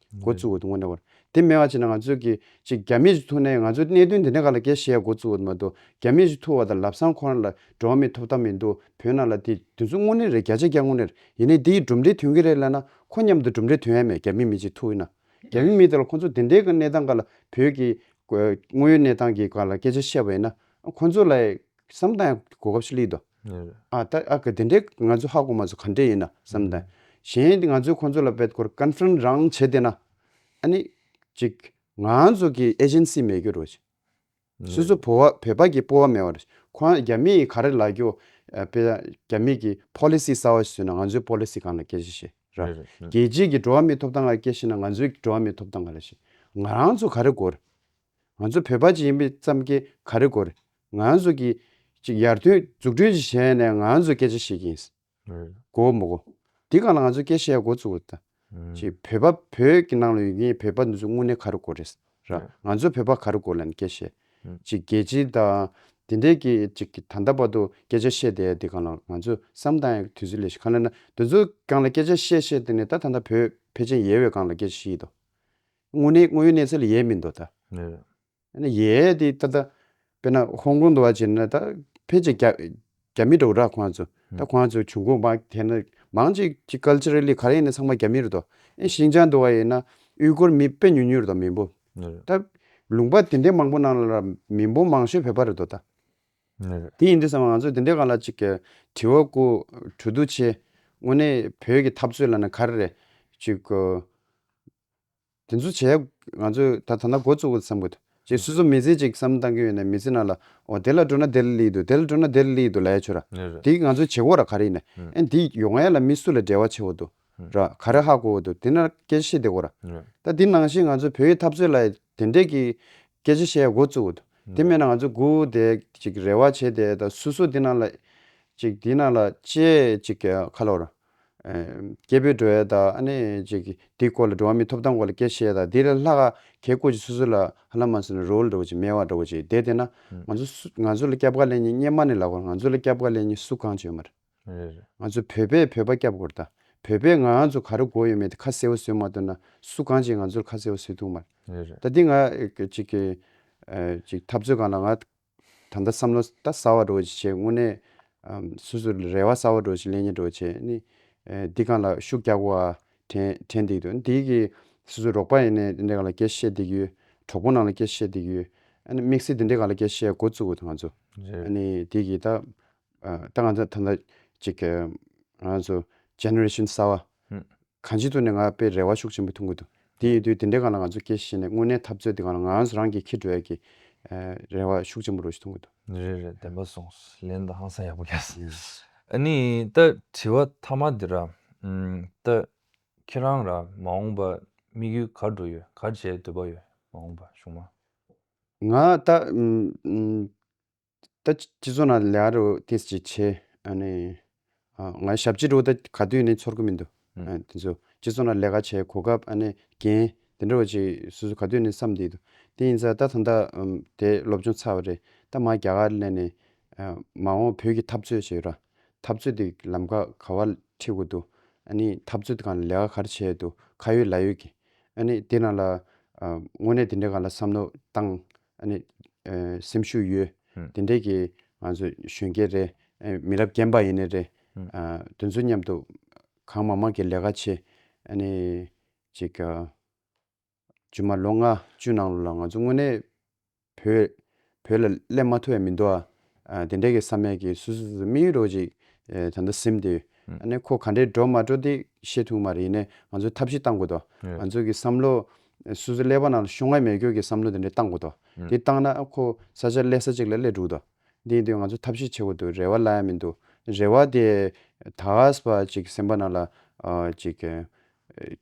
འགོ་བཙུགས་འོད་དུ་མ་འདྲ་བར། དེ་སྨྲས་པ་ཅི་ན་ང་ཚོས་ཀྱིས་ཅིག་རྒྱ་མི་ཞིག་ཐུག་ནས་ང་ཚོས་གནད་དོན་འདི་འདྲ་ག་ལ་དགེ་ཞེས་འགོ་བཙུགས་འོད་མ་འདུག་རྒྱ་མི་ཞིག་ཐུག་བ་དང་ལབ་སང་ཁོ་རང་ལ་འགྲོ་བ་མི་ཐོབ་ཐབས་མི་འདུག་བོད་ནང་ལ་དེ་དུས་ཚོད་དངོས་གནས་རེད་བརྒྱ་ཆ་བརྒྱ་དངོས་གནས་རེད་ཡིན་ནའི་དེ་ཡིས་གྲུབ་འབྲས་ཐོན་གྱི་རེད་ལབ་ན་ཁོ་མཉམ་དུ་གྲུབ་འབྲས་ཐོན་ཡ་མེད་རྒྱ་མི་མི་ཅིག་ཐུག་ཡིན་ན་རྒྱ་མི་མི་དེ་ལ་ཁོ་ཚོ་དེ་འདྲའི་གི་གནས་སྟངས་ག་ལ་བོད་ཀྱི་དངོས་ཡོད་གནས་སྟངས་ཀྱི་ག་ལ་སྐད་ཆ་བཤད་པ་ཡིན་ན་ཁོ་ཚོ་ལ་བསམ་སྟངས་ཡང་གོ་སྐབས་ཤིག་བསླིགས་འདུག། ངེས་རེད། ཨ་ད་ཨ་ཀི་དེ་འདྲའི་ང་ཚོའི་ཧ་གོ་མ་ཚོ་ག་འདྲས་ཡིན་ན་བསམ་དང། གཞན་ང་ཚོས་ཁོང་ཚོ་ལ་བེད་སྐོར Conference རང་བྱེད་དེ་ན། ཨ་ནི། ཅིག། ང་ཚོ་གི Agency མེད་རྒྱུ་རུ། སོ་སོ་བོ་བོད་པ་གི་སྤོ་བ་མེད་བ་རུ། ཁོ་ང་རྒྱ་མི་ཡི་ག་རེ་ལ་རྒྱོ། པེ། རྒྱ་མི་གི Policy གསར་བ་ཞིག་བཟོས་ན་ང་ཚོའི Policy གང་ལ་སྐྱེ་ཤི་ཤེ། ར། ངེས་རེད། རྒྱལ་སྤྱིའི་གི་འགྲོ་བ་མིའི་ཐོབ་ཐང་ག་རེ་སྐྱེ་ཤི་ན་ང་ཚོའི་གི་འགྲོ་བ་མིའི་ཐོབ་ཐང་ག་རེ་ཤེ། ང་རང་ཚོ་ག་རེ་གོ་རེ། ང་ཚོ་བོད་པ་ཅིག་ཡིན་པའི་ཙམ་གྱིས་ག་རེ་གོ་རེ། ང་ཚོ་གིས་ཅིག་ཡར་ཐོན་འཛུགས་སྐྲུན་ཅིག་བྱས་ནས་ང་ཚོས་སྐད་ཆ་བཤད་ཀྱི་ཡིན། གོ་མི་གོ། འདི་གང་ལ་ང་ཚོས་སྐད་བཤད་འགོ་བཙུགས་ཏེ། ཅིག་བོད་པ་བོད་ཀྱི་ནང་ལ་ཡོད་མཁན་བོད་པ་འདི་ཚོ་དངོས་གནས་ག་རེ་གོ་རེ། ང་ཚོ་བོད་པ་ག་རེ་གོ་ལ་ནི་སྐད་བཤད། ཅིག་རྒྱལ་སྤྱི་དང་དེ་འདྲས་ཀྱིས་ཅིག་ད་ལྟ་བར་དུ་སྐད་ཆ་བཤད་དེ་འདི་གང་ལ་ང་ཚོས་བསམ་བཏང་ཡང་དུས་ཚོད་ལས་ཤིག་ག་ལ་ན་འདི་ཚོ་གང་ལ་སྐད་ཆ་བཤད་བཤད་དེ་ནས་ད་ད་ད་བོད་ཕལ་ཆེན་ཡལ་བའི་གང་ལ་སྐད་ཆ་བཤད་ཡི་དོ། དངོས་གནས་དངོས་ཡོད་གནས་ཚུལ་ཡས་མིན་འདུག་ད། ཡས་དེ་ད་ད་དཔེར་ན་ཧོང་ཀོང་དུ་བ་བྱས་ན་ད་ཕལ་ཆེར་རྒྱ་རྒྱ་མི་འགྲོ་ར་ཁོང་ཚོ་ད་ཁོང་ཚོ་བྱུང་ཁུངས་བ་དེ་ན་མང་ཅིག་ཅིག་ཀལ་ཆེ་རེ་ལི་ག་རེ་ཡིན་ན་ཚང་མ་རྒྱ་མིར་དོ་ཨེ་ཤིན་ཅང་དུ་བ་ཡིན་ན་དབྱུས་ཀོར་མི་དཔེ་ཉུལ་ཉུལ་དོ་མི་འབོ་ད་ལུང་པ་དེ་འདྲའི་མང་པོ་ནང་ལ་མི་འབོ་མང་ཤོས་བོད་པ་རེ་དོ་ད། དེ་ཡིན་དུས་སམ་ང་ཚོ་དེ་འདྲའི་ག་ལ་ཅིག་གི་དྲི་བ་ཀུ་དྲུ་དུ་ཆེ་དངོས་གནས་བོད་ཀྱི་འཐབ་རྩོད་ལ་ན་ག་རེ་རེ་ཅིག་གུ་དེ་ཚོ་བྱས་ང་ཚོས་ད་ད་ལྟ་འགོ་བཙུགས་བསམ་གྱི་འདུག་ཅེས་སུ་ཚོ་མི་ཚེ་གཅིག་བསམ་བཏང་གི་ཡོད་ནའི་མི་ཚེ་ནང་ལ་འོ་དེ་ལ་འགྲོ་ན་དེ་ལ་ལེགས་འདུག་དེ་ལ་འགྲོ་ན་དེ་ལ་ལེགས་འདུག་ལ་ཡ་ཆོད་ར། དེ་ང་ཚོའི་བྱེད་སྒོ་ར་ག་རེ་ཡིན་ནའི་ཨན་དེ་ཡོ་ང་ཡ་ལ་མི་སུ་ལ་འབྲེལ་བ་ཆེ་བོ་འདུག་ར་ག་རེ་ཧ་གོ་བོ་འདུག་དེ་ན་སྐད་ཆ་བཤད་བདེ་གོ་ར། ད་དེ་ནང་བཞིན་ང་ཚོས་བོད་ཡིག་འཐབ་རྩོད་ལ་ཡ་དེ་འདྲས་ཀྱི་སྐད་ཆ་བཤད་ཡ་འགོ་བཙུགས་བོ་འདུག་དེ་མེད་ན་ང་ཚོས་སྒུག་བསྡད་ཅིག་རེ་བ་བྱས་བསྡད་ད་སུ་སུ་དེ་ནང་ལ་ཅིག་དེ་ནང་ལ་ཅེས་ཅིག་ག་ལ་བོ་ར། སྐྱེས་བུ་འགྲོ་བའི་དང། དེའི་སྐོར་ལ་འགྲོ་བ་མི་ཐོབ་ཐང་སྐོར་ལ་སྐད་བཤད་དང། དེའི་ལྷ་ཁ་གའི་སྐོར་གྱི་སོ་སོ་ལ་ཧ་ལམ་མ་ཟེར་ན་རོ་ལ་འགྲོ་བ་ཅིག་སྨེ་བ་འགྲོ་བ་ཅིག་དེ་བལྟས་ན། ང་ཚོ་ལ་སྐྱབས་དགའ་ལེ་ཉེ་སྙེ་མ་ནས་ལ་གོ་ང་ཚོ་ལ་སྐྱབས་དགའ་ལེ་ཉེ་སུ་གང་བྱོས་མ་རེད། ང་ཚོ་བོད་པས་བོད་པ་སྐྱབས་དགོས་རེད་ད། བོད་པས་ང་ཚོ་ག་རེ་དགོས་ཡོད་མེད་དེ་ཁ་གསལ་བོ་བཟོས་མ་ཐུབ་ན་སུ་གང་ཅིག་ང་ཚོ་ལ་ཁ་གསལ་བོ་བཟོས་ཐུབ་མ་རེད། ད་འདི་ང་ཅིག་འཐབ་རྩོད་གང་ལ་ང་ད་ལྟ་བསམ་བློ་ད་གསར་བ་འགྲོ་ཆེད་དངོས་གནས། སོ་སོ་རེ་བ་གསར་བ་འགྲོ་ཆེད་ཀླད་རྙིང་འགྲོ་ཆེད་ནི། འདི་གང་ལ་ཤུགས་རྒྱག་གོ་ཨ། དྲན་དྲན་འདིག་དུ་འདི་གི། སོ་སོ་རོགས་པ་ཡིན་ནས་འདི་འདྲས་གང་ལ་སྐད་བཤད་འདིག་ཡོད། གྲོགས་པོ་ནང་ལ་སྐད་བཤད་འདིག་ཡོད། ཨ་ནི་དམིགས་བསལ་འདི་འདྲས་གང་ལ་སྐད་བཤད་འགོ་བཙུག་གོ་ད་ང་ཚོ། རེད། ཨ་ནི་འདི་གི་ད། ད་ང་ཚོ་ད་ལྟ་གཅིག་གི་ང་ཚོ Generation གསར་བ་གང་ཅི་ཐུག་ནས་ང་དཔེ་རེ་བ་ཤུགས་ཆེན་པོ་ཐོན་གི་འདུག་དེ་ཡིན་དུས་དེ་འདྲའི་སྒང་ལ་ང་ཚོ་སྐྱེ་ཤི་ནས་དངོས་གནས་འཐབ་རྩོད་དེ་གང་ལ་ང་ཚོ་རང་གི་ཁེ་གྲོལ་གྱི་རེ་བ་ཤུགས་ཆེན་པོ་རོ་ཞིག་ཐོན་གི་འདུག། རེད་རེད་བདེན་པ་སོང་ལན་དང་ཧང་སང་ཡག་པོ་རྒྱག་སོང། ཨ་ནི་ད་དྲི་བ་ཐ་མ་འདི་ར་ད་ཁྱེད་རང་ར་མ་འོངས་པ་དམིགས་ཡུལ་གར་འགྲོ་ཡོད་གར་བྱེད་འདོད་པ་ཡོད་མ་འོངས་པ་གཞུང་མ། ང་ད། ད་ཅི་ཚོ་ན་ལེ་ཨ་རུ་ཏིས་ཅི་ཆེ་ཨ་ནི། ང་ཡི་ཞབས་ཕྱི་རུ་ད་ག་དུས་ནས་ཚོར་གི་མི་འདུག་དེ་ཚོ་ཅི་ཚོ་ན་ལས་ཀ་བྱས་གོ་སྐབས་ཨ་ནི་རྒན་དེ་འདྲ་བ་ཅིག་སོ་སོ་ག་དུས་ནས་བསམ་བསྡད་འདུག་དེ་ཡིན་ཚ་ད་ད་ལྟ་དེ་སློབ་སྦྱོང་ཚར་བ་རེད་ད་མ་རྒྱ་གར་སླེབས་ནས། མ་འོངས་བོད་ཀྱི་འཐབ་རྩོད་ཅེས་ཡོད་ར་འཐབ་རྩོད་དེ་ལམ་ཁ་ག་བ་ཁྲིད་དགོས་འདུག་ཨ་ནི་འཐབ་རྩོད་དེ་གང་ལ་ལས་ཀ་ག་རེ་བྱས་ཡོད་འདུག་ཁ་ཡོད་ལག་ཡོད་ཀྱི་ཨ་ནི་དེ་རང་ལ། དངོས་གནས་དེ་འདྲའི་གང་ལ་བསམ་བློ་བཏང་སེམས་ཤུགས་ཡོད། དེ་འདྲའི་གི་ང་ཚོ་གཞོན་སྐྱེས་རེད། མི་རབས་རྒན་པ་ཡིན་ནི་རེད། དེ་ཚོ་མཉམ་དུ་གང་མང་མང་གི་ལས་ཀ་བྱེད། ཅིག་ཇི་མ་ལོ་ལྔ་བཅུ་ནང་ལོ་ལ་ང་ཚོ་དངོས་གནས་བོད་བོད་ལ་སླད་མ་ཐུ་བས་མི་འདུག་ཨ། དེ་འདྲ་གི་བསམ་ཡས་ཀྱི་སུ་སུ་སུ་མིག་ཡུལ་རོ་ཅིག་ད་ནྡོ་སེམས་དེ། ཨནི་ཁོ་ག་འདྲའི་འགྲོ་མ་འགྲོ་དེ་ཤེས་ཐུང་མ་རེད་ནས་ང་ཚོས་ཐབས་ཤེས་བཏང་དགོས་ཏོ། ང་ཚོས་གི་བསམ་བློ། སུ་སུ་ཀླད་པ་ནང་ལ་ཤོང་ཨེ་མེད་ཀྱོ་གི་བསམ་བློ་དེ་འདྲ་བཏང་དགོས་ཏོ། དེ་བཏང་ན་ཁོ་ས་ཆ་ཀླད་ས་ཅིག་ལ་ཀླད་འགྲུག་ཏོ། དེ་ཡིན་དུས་ང་ཚོས་ཐབས་ཤེས་བྱེད་དགོས་དུ་རེ་བ་ལ་ཡ་མི་འདུག་རེ་བ་དེ། ད་གཟ་བ་ཅིག་སེམས་པ་ནང་ལ། ཅིག།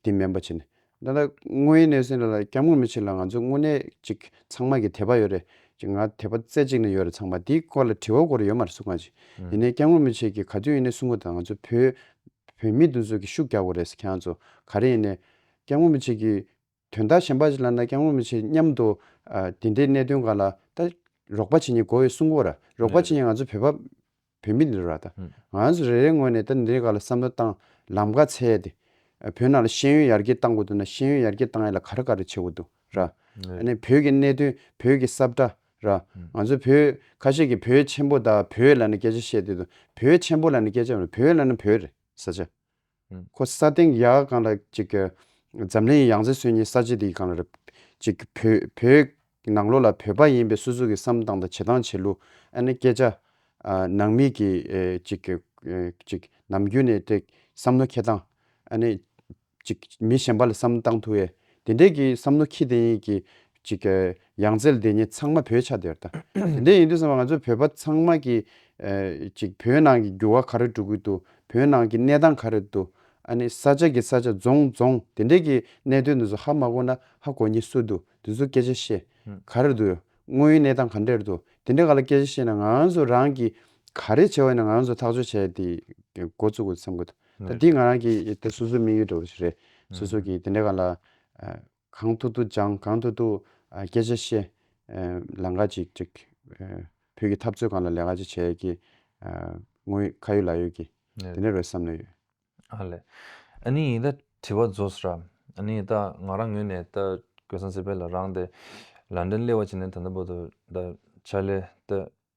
དེ་སྨན་པ་བྱས་ནས་ད་ལྟ་དངོས་ཡོད་གནས་ཚུལ་ལ་སྐྱབས་ངོ་མི་ཕྱིར་ལ་ང་ཚོ་དངོས་གནས་ཅིག་ཚང་མ་གི་དད་པ་ཡོད་རེད་ཅིག་ང་དད་པ་རྩེ་གཅིག་ནས་ཡོད་རེད་ཚང་མ་དེའི་སྐོར་ལ་དྲི་བ་གོ་རེ་ཡོད་མ་རེད་སུ་གང་ཅིག་ཡིན་ནའི་སྐྱབས་ངོ་མི་བྱེད་ཀྱི་ག་དུས་ཡིན་ནའི་སུ་ངོ་དང་ང་ཚོ་བོད་བོད་མི་དེ་ཚོ་གི་ཤུགས་རྒྱག་གོ་རེད་ཁྱེད་རང་ཚོ་ག་རེ་ཡིན་ནའི་སྐྱབས་ངོ་མི་བྱེད་ཀྱི། དོན་དག་གཞན་པ་ཞིག་ལ་ན་སྐྱང་བོ་མི་བྱེད་སྙམ་དུ། དེ་འདྲའི་གནད་དོན་གང་ལ་ད། རོགས་པ་བྱེད་ཉེ་གོ་བའི་སྲུང་འཁོར། རོགས་པ་བྱེད་ཉེ་ང་ཚོ་བོད་པ། བོད་མི་འདི་ར་ད། ང་ཚོ་རེ་རེའི་ངོས་ནས་ད་འདིའི་ག་ལ་བསམ་བློ་བཏང། ལམ་ཁ་ཚད་དེ། བོད་ནང་ལ་ཤེས་ཡོན་ཡར་རྒྱས་བཏང་གོ་འདུག་ན་ཤེས་ཡོན་ཡར་རྒྱས་བཏང་ཡས་ལ་ག་རེ་ག་རེ་བྱེད་གོ་འདུག་ར། ནས་བོད་ཀྱི་གནད་དོན་བོད་ཀྱི་སྲབ་གྲ་ར། ང་ཚོ་བོད་ཁ་ཤས་ཀྱི་བོད་ཆེན་པོ་ད་བོད་ལ་ན་སྐད་ཆ་བཤད་དེ་དུ་བོད་ཆེན་པོ་ལ་ན་སྐད་ཆ་བོད་ལ་ན་བོད་རེད་ས་ཆ། ཁོ་ས་སྟེང་གི་ཡ་ག་གང་ལ་ཅིག་གི། འཛམ་གླིང་ཡང་རྩེ་སོན་གཉིས་ས་བྱེ་འདི་གང་ལ་རེད། ཅིག་གི། བོད། ནང་ལོག་ལ་བོད་པ་ཡིན་པའི་སོ་སོ་གི་བསམ་སྟངས་དང་བྱེད་སྟངས་བྱེད་ལུགས། ཨ་ནི་སྐད་ཆ། ནང་མི་གི། ཅིག་གི། ཅིག། ནམ་རྒྱུན་ནས་དེ། བསམ་མནོ་ཁྱེད་སྟངས། ཨ་ནི། ཅིག། མི་གཞན་པ་ལ་བསམ་སྟངས་ཐུ་ཡེ། དེ་འདྲས་གི་བསམ་མནོ་ཁྱི་དེ་ཡིན་གི། ཅིག་གི། ཡང་རྩལ་འདི་ཉིད་ཚང་མ་བོད་ཆ་དེར་ལྟ། དེ་འདྲས་ཡིན་དུས་སེམས་པ་ང་ཚོ་བོད་པ་ཚང་མ་གིས། ཅིག་བོད་ནང་གི་འགྱུར་བ་ག་རེ་འགྲོ་གི་འདུག་བོད་ནང་གི་གནས་སྟངས་ག་རེ་འདུག། ཨ་ནི་ས་ཆ་གི་ས་ཆ་རྫོང་རྫོང་དེ་འདྲས་ཀྱི་གནད་དོན་དེ་ཚོ་ཧ་མ་གོ་ན་ཧ་གོ་ཉེ་སུ་འདུག་དེ་ཚོ་སྐད་ཆ་བཤད། ག་རེ་འདུག་དངོས་ཡོད་གནས་སྟངས་ག་འདྲས་འདུག་དེ་འདྲས་ག་ལ་སྐད་ཆ་བཤད་ན་ང་ཚོ་རང་གིས་ག་རེ་བྱེད་འོས་ན་ང་ཚོ་ཐག་གཅོད་བྱས་ཏེ་འགོ་བཙུགས་དགོས་བསམ་གི་འདུག་ད་འདི་ང་རང་གིས་ད་སོ་སོའི་དམིགས་ཡུལ་འདྲ་བོ་ཞིག་རེད། སོ་སོ་གིས་དེ་འདྲས་ག་ལ། གང་ཐུག་ཐུག་སྦྱང་གང་ཐུག་ཐུག་སྐད་ཆ་བཤད། ལན་འགའ་ཅིག་ཅིག། བོད་ཀྱི་འཐབ་རྩོད་གང་ལ་ལས་ག་ཅིག་བྱས་ཡོད་ཀྱི། དངོས་ཡོད་ཁ་ཡོད་ལག་ཡོད་ཀྱི། དེ་འདྲ་རེད་བསམ་ནས་ཡོད། ཨ་ལས། ཨ་ནི་ཡིན་ད་དྲི་བ་རྫོགས་ས་ར། ཨ་ནི་ད་ང་རང་ངོས་ནས་ད་གོས་སང་སེ་པེ་ལ་རང་དེ། ལ་འདྲེན་སླེ་བ་བྱས་ནས་ད་ད་པོ་ད། ད་ཆ་ལས་ད།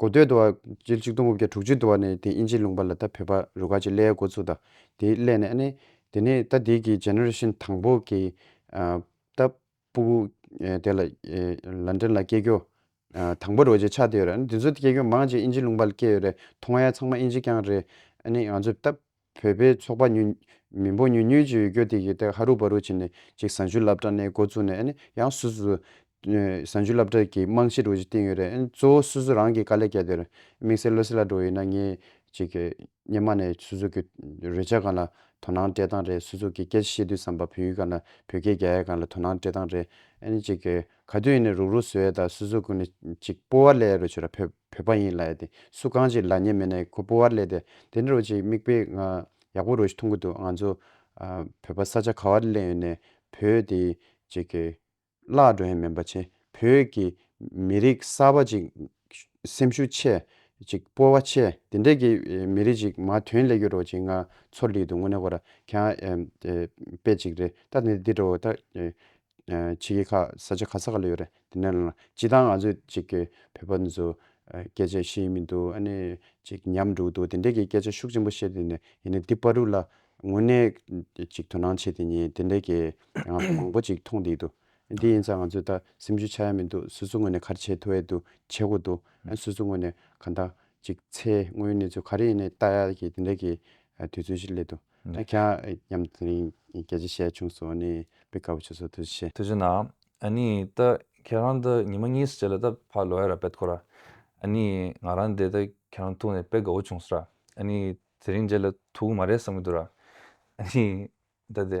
གོ་སྟོད་དུ་བ། སྤྱིར་ཆིག་སྟོང་དགུ་བརྒྱ་དྲུག་ཅུ་དུ་བ་ནས་དེ་དབྱིན་ཇིའི་ལུང་པ་ལ་ད་བོད་པ་རུ་ཁག་ཅིག་སླེ་ཡ་འགོ་ཚུགས་ད་དེའི་སླེ་ནས་ཨ་ནེ། དེ་ནས་ད་དེའི་གི Generation དང་པོ་གི་ད་པུ་གུ་དེ་ལ London ལ་སྐྱེས་གྱུར་དང་པོ་རུ་བ་ཅིག་ཆགས་དེ་ཡོད་རེད་ཨ་ནེ་དེ་ཚོ་སྐྱེས་གྱུར་མང་ཅིག་དབྱིན་ཇིའི་ལུང་པ་ལ་སྐྱེས་ཡོད་རེད་ཐོག་མ་ཡ་ཚང་མ་དབྱིན་ཇི་རྐྱང་རེད་ཨ་ནེ་ང་ཚོས་ད་བོད་པའི་ཚོགས་པ་ཉུལ། མི་འབོ་ཉུལ་ཉུལ་གྱི་ཡོད་སྐྱོ་དེ་གི་ཐད་ཧ་རུ་བ་རུ་བྱེད་ནས་ཅིག་བཟང་སྤྱོད་བསླབ་གྲྭ་གནས་འགོ་བཙུགས་ནས་ནི་ཡང་སུ་སུ། བཟང་སྤྱོད་བསླབ་གྲྭ་གི་རྨང་གཞི་རུ་ཅིག་བཏིང་ཡོད་རེད་གཙོ་བོ་སུ་སུ་རང་གི་དཀའ་ལས་སྐྱ་དེར་དམིགས་བསལ་བློ་སེ་ལ་འགྲོ་ཡོད་ན་ངས་ཅིག་སྙེ་མ་ནས་སུ་སུ་གི་རོལ་ཆ་གང་ལ་དོ་སྣང་སྤྲད་སྟངས་རེད་སུ་སུ་གི་སྐད་ཆ་བཤད་དུས་སམ་བ་བོད་ཡུལ་གང་ལ་བོད་སྐད་རྒྱ་ཡག་གང་ལ་དོ་སྣང་སྤྲད་སྟངས་རེད་ཨ་ནི་ཅིག་ག་དུས་ཡིན་ནས་རུག་རུག་བཟོས་ཡ་ད་སུ་སུ་ཀུ་ནི་ཅིག་སྤོ་བ་ལས་རུ་བྱོས་ར་ཕེབས། བོད་པ་ཡིན་ལ་ཡ་དེ་སུ་གང་ཅིག་ལ་ཉེ་མེད་ན་ཁོ་སྤོ་བར་ལས་དེ་དེ་འདྲ་བོ་ཅིག་མིག་དཔེ་ང་ཡག་པོ་རོ་ཞིག་མཐོང་གི་འདུག་ང་ཚོ་བོད་པ་ས་ཆ་ག་བར་གླེང་ཡོད་ནས་བོད་དེ་ཅིག་གི་བརླག་འགྲོ་ཡ་མིན་པ་བྱེད་བོད་ཀྱི་མི་རིགས་གསར་པ་ཅིག་སེམས་ཤུགས་ཆེ་ཅིག་སྤོ་བ་ཆེ་དེ་འདྲ་གི་མི་རིགས་ཅིག་མ་དོན་ལས་ཀྱི་རོ་ཅིག་ང་ཚོར་ལི་འདུག་དངོས་གནས་ཁོ་ར་ག་ཡ་དཔེ་ཅིག་རེད་ད་དེ་འདྲ་བོ་ད་ཕྱི་རྒྱལ་ཁག་ས་ཆ་ག་ས་ག་ལ་ཡོད་རེད་དེ་ནས་ལ་སྤྱི་བཏང་ང་ཚོས་ཅིག་གི་བོད་པ་འདི་ཚོ་སྐད་ཆ་ཤེས་མི་འདུག་ཨ་ནི་ཅིག་ཉམས་འགྲོ་གི་འདུག་དེ་འད་གི་སྐད་ཆ་ཤུགས་ཆེན་པོ་བཤད་དེ་ནས་ཡིན་ནའི་འདི་པ་རུ་ལ་དངོས་གནས་ཅིག་དོ་སྣང་བྱེད་དེ་ཉིད་དེ་འད་གི་ང་ཚོ་མང་པོ་ཅིག་མཐོང་དེ་འདུག་འདི་ཡིན་ཙང་ང་ཚོས་ད་སེམས་ཤུགས་ཆག་ཡ་མི་འདུག་སོ་སོ་དངོས་ནས་ག་རེ་བྱེད་ཐུབ་ཨེ་འདུག་བྱེད་དགོས་འདུག་ཨ་སོ་སོ་དངོས་ནས་ག་འད་ཅིག་ཚེ་དངོས་ཡོད་གནས་ཚུལ་ག་རེ་ཡིན་ནའི་ལྟ་ཡ་གི་དེ་འད་གི་དུས་ཚོད་ཞིག་སླེབས་འདུག་རྒྱ་ཁྱ་ཡམ་ཏི་རིང་རྒྱ་རྗེ་ཞལ་ཆུང་སོགས་ནས་དཔེ་དཀར་པོ་ཆུ་སོགས་ཐོས་ཤེས། ཐོས་ཤེས་ན་ཨ་ནི་ད་ཁྱེད་རང་འདི་ཉི་མ་གཉིས་སུ་བྱས་ལ་ད་ཕ་ལོ་ཡ་ར་བེད་ཁོ་ར་ཨ་ནི་ང་རང་འདས་ད་ཁྱེད་རང་ཐུག་ནས་དཔེ་དགའ་བོ་བྱུང་ས་ར་ཨ་ནི་དེ་རིང་མཇལ་ལ་ཐུག་གི་མ་རེད་བསམ་གི་འདུག་ར་ཨ་ནི་ད་དེ།